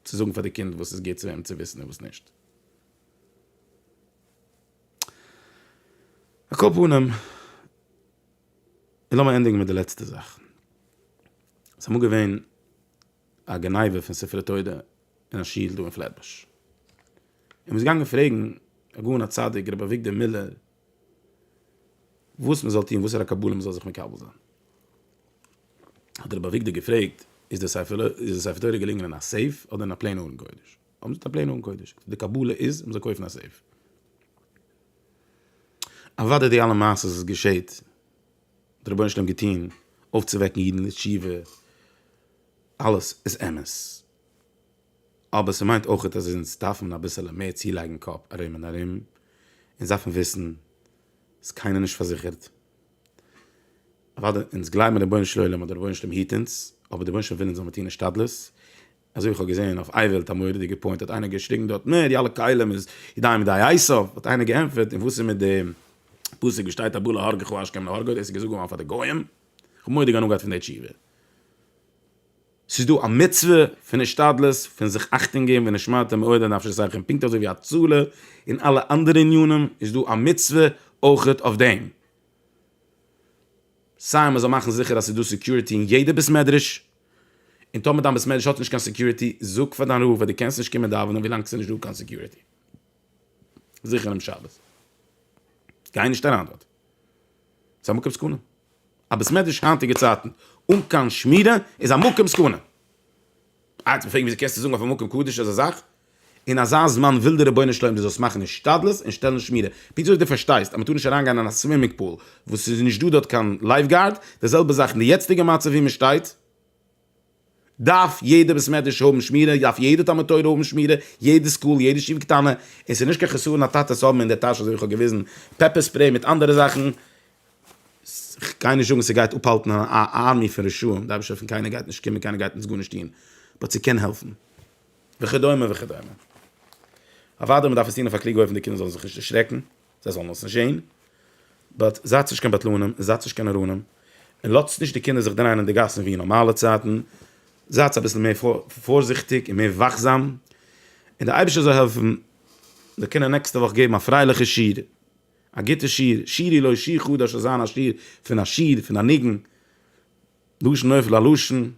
צו זאגן פאר די קינד וואס איז גוט צו וועם צו וויסן און וואס נישט. על כל פנים, און לאמיר ענדיגן מיט די לעצטע זאך. ס'איז אמאל געווען. א גניבה פון ספרי תורה אין א שול דא אין פלעטבוש, און מ'איז געגאנגען פרעגן הגאון הצדיק רבי אביגדור מילער וואס מ'זאל טון, וואסערע קבלה מ'זאל זיך מקבל זיין, האט רבי אביגדור געפרעגט, איז די ספר תורה געלינגען אין א סעיף אדער אין א פלעין ארון קודש? האבן זיי געזאגט א פלעין ארון קודש, האט ער געזאגט די קבלה איז מ'זאל קויפן א סעיף. אוודאי די אלע מעשות וואס געשעהט די רבונו של עולם געטון אויפצווועקן אידן לתשובה אלעס איז אמת אבער ס'מיינט אויכעט אז אונז דארפן אביסעלע מער צולייגן קאפ ארום און ארום אונז דארפן וויסן איז קיינער נישט פארזיכערט אוואדע אונז גלייבן אין רבונו של עולם אז די רבונו של עולם היט אונז אבער די רבונו של עולם וויל אונז זאל מיר טון השתדלות אזוי איך האב געזען אויף אייוועלט א מורא'דיגע פוינט האט איינער געשריגן דארט נע די אלע כלים איז ידיים ידי עשיו האט איינער געענטפערט און וואס איז מיט די פסוק ווי שטייט הבא להרגך השכם להרגו דאס איז געזאגט געווארן פאר די גוים כ'האב מורא'דיג הנאה געהאט פון די תשובה. ס'איז דא א מצוה פון השתדלות פון זיך אכטונג געבן ונשמרתם מאוד לנפש אחיכם פונקט אזוי ווי הצלה און אלע אנדערע ענינים איז דא א מצוה אויכעט אויף דעם סיי מ'זאל מאכן זיכער אז ס'איז דא סעקיוריטי אין יעדע בית מדרש און טאמער דיין בית מדרש האט נישט קיין סעקיוריטי, זאג פאר דיין רב אז דו קענסט נישט קומען דאווענען ווילאנג ס'איז נישט דא קיין סעקיוריטי. זיכער אום שבת. גיי נישט אריין דארט. ס'איז א מקום סכנה. א בית מדרש היינטיגע צייטן אן קיין שמירה איז א מקום סכנה. אה, יעצט מ'פרעגט ווי אזוי קענסטו זאגן אויף א מקום קדוש אזא זאך? אין אזא זמן וויל די רבונו של עולם דו זאלסט מאכן השתדלות און שטעלן שמירה, פונקט אזוי ווי דו פארשטייסט אז מען טאר נישט אריין גיין אין א סווימינג פול וואס עס איז נישט דא דארט קיין לייף גארד, די זעלבע זאך אין די יעצטיגע מצב ווי מען שטייט, דארף יעדע בית מדרש האבן שמירה, דארף יעדע תלמוד תורה האבן שמירה, יעדע סקול, יעדע ישיבה קטנה, און עס איז נישט קיין חסרון א טאטע צו האבן אין די טאש אזוי ווי איך האב געוויזן פעפער ספרעי מיט אנדערע זאכן, איך גיי נישט זאגן עס גייט אפהאלטן א ארמי פון רשעים, די אייבערשטער פון קיינער גייט נישט קומען קיינער גייט אונז גארנישט טון, באט ס'קען העלפן. וכדומה וכדומה. אוודאי מ'דארף עס טון אויף א קלוגע אופן די קינדער זאלן זיך נישט דערשרעקן, זיי זאלן עס נישט זען, באט זייטס נישט קיין בטלנים און זייטס נישט קיין נאראנים, און לאזטס נישט די קינדער זיך דרייען אין די גאסן ווי אין נארמאלע צייטן, זייטס אביסל מער פארזיכטיג און מער וואכזאם, און דער אייבערשטער זאל העלפן זיי קענען נעקסטע וואך געבן א פרייליכע שיעור, א גוטע שיעור, שירי לוי שיחו דאס זאל זיין א שיעור פון א שיר, פון א ניגון, לשון נופל א לשון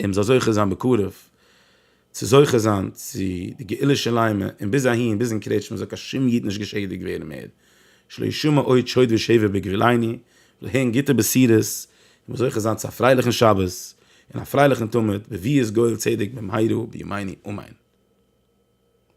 און מ'זאל זוכה זיין בקרוב צו זוכה זיין צו די גאולה שלימה און ביז אהין ביז אין קרעטשמע זאל קיין שום איד נישט געשעדיגט ווערן מער שלא ישמע עוד שוד ושבר בגבולנו זאל הערן גוטע בשורות און מ'זאל זוכה זיין צו א פרייליכן שבת און א פרייליכן תמיד בביאת גואל צדק במהרה בימינו אמן.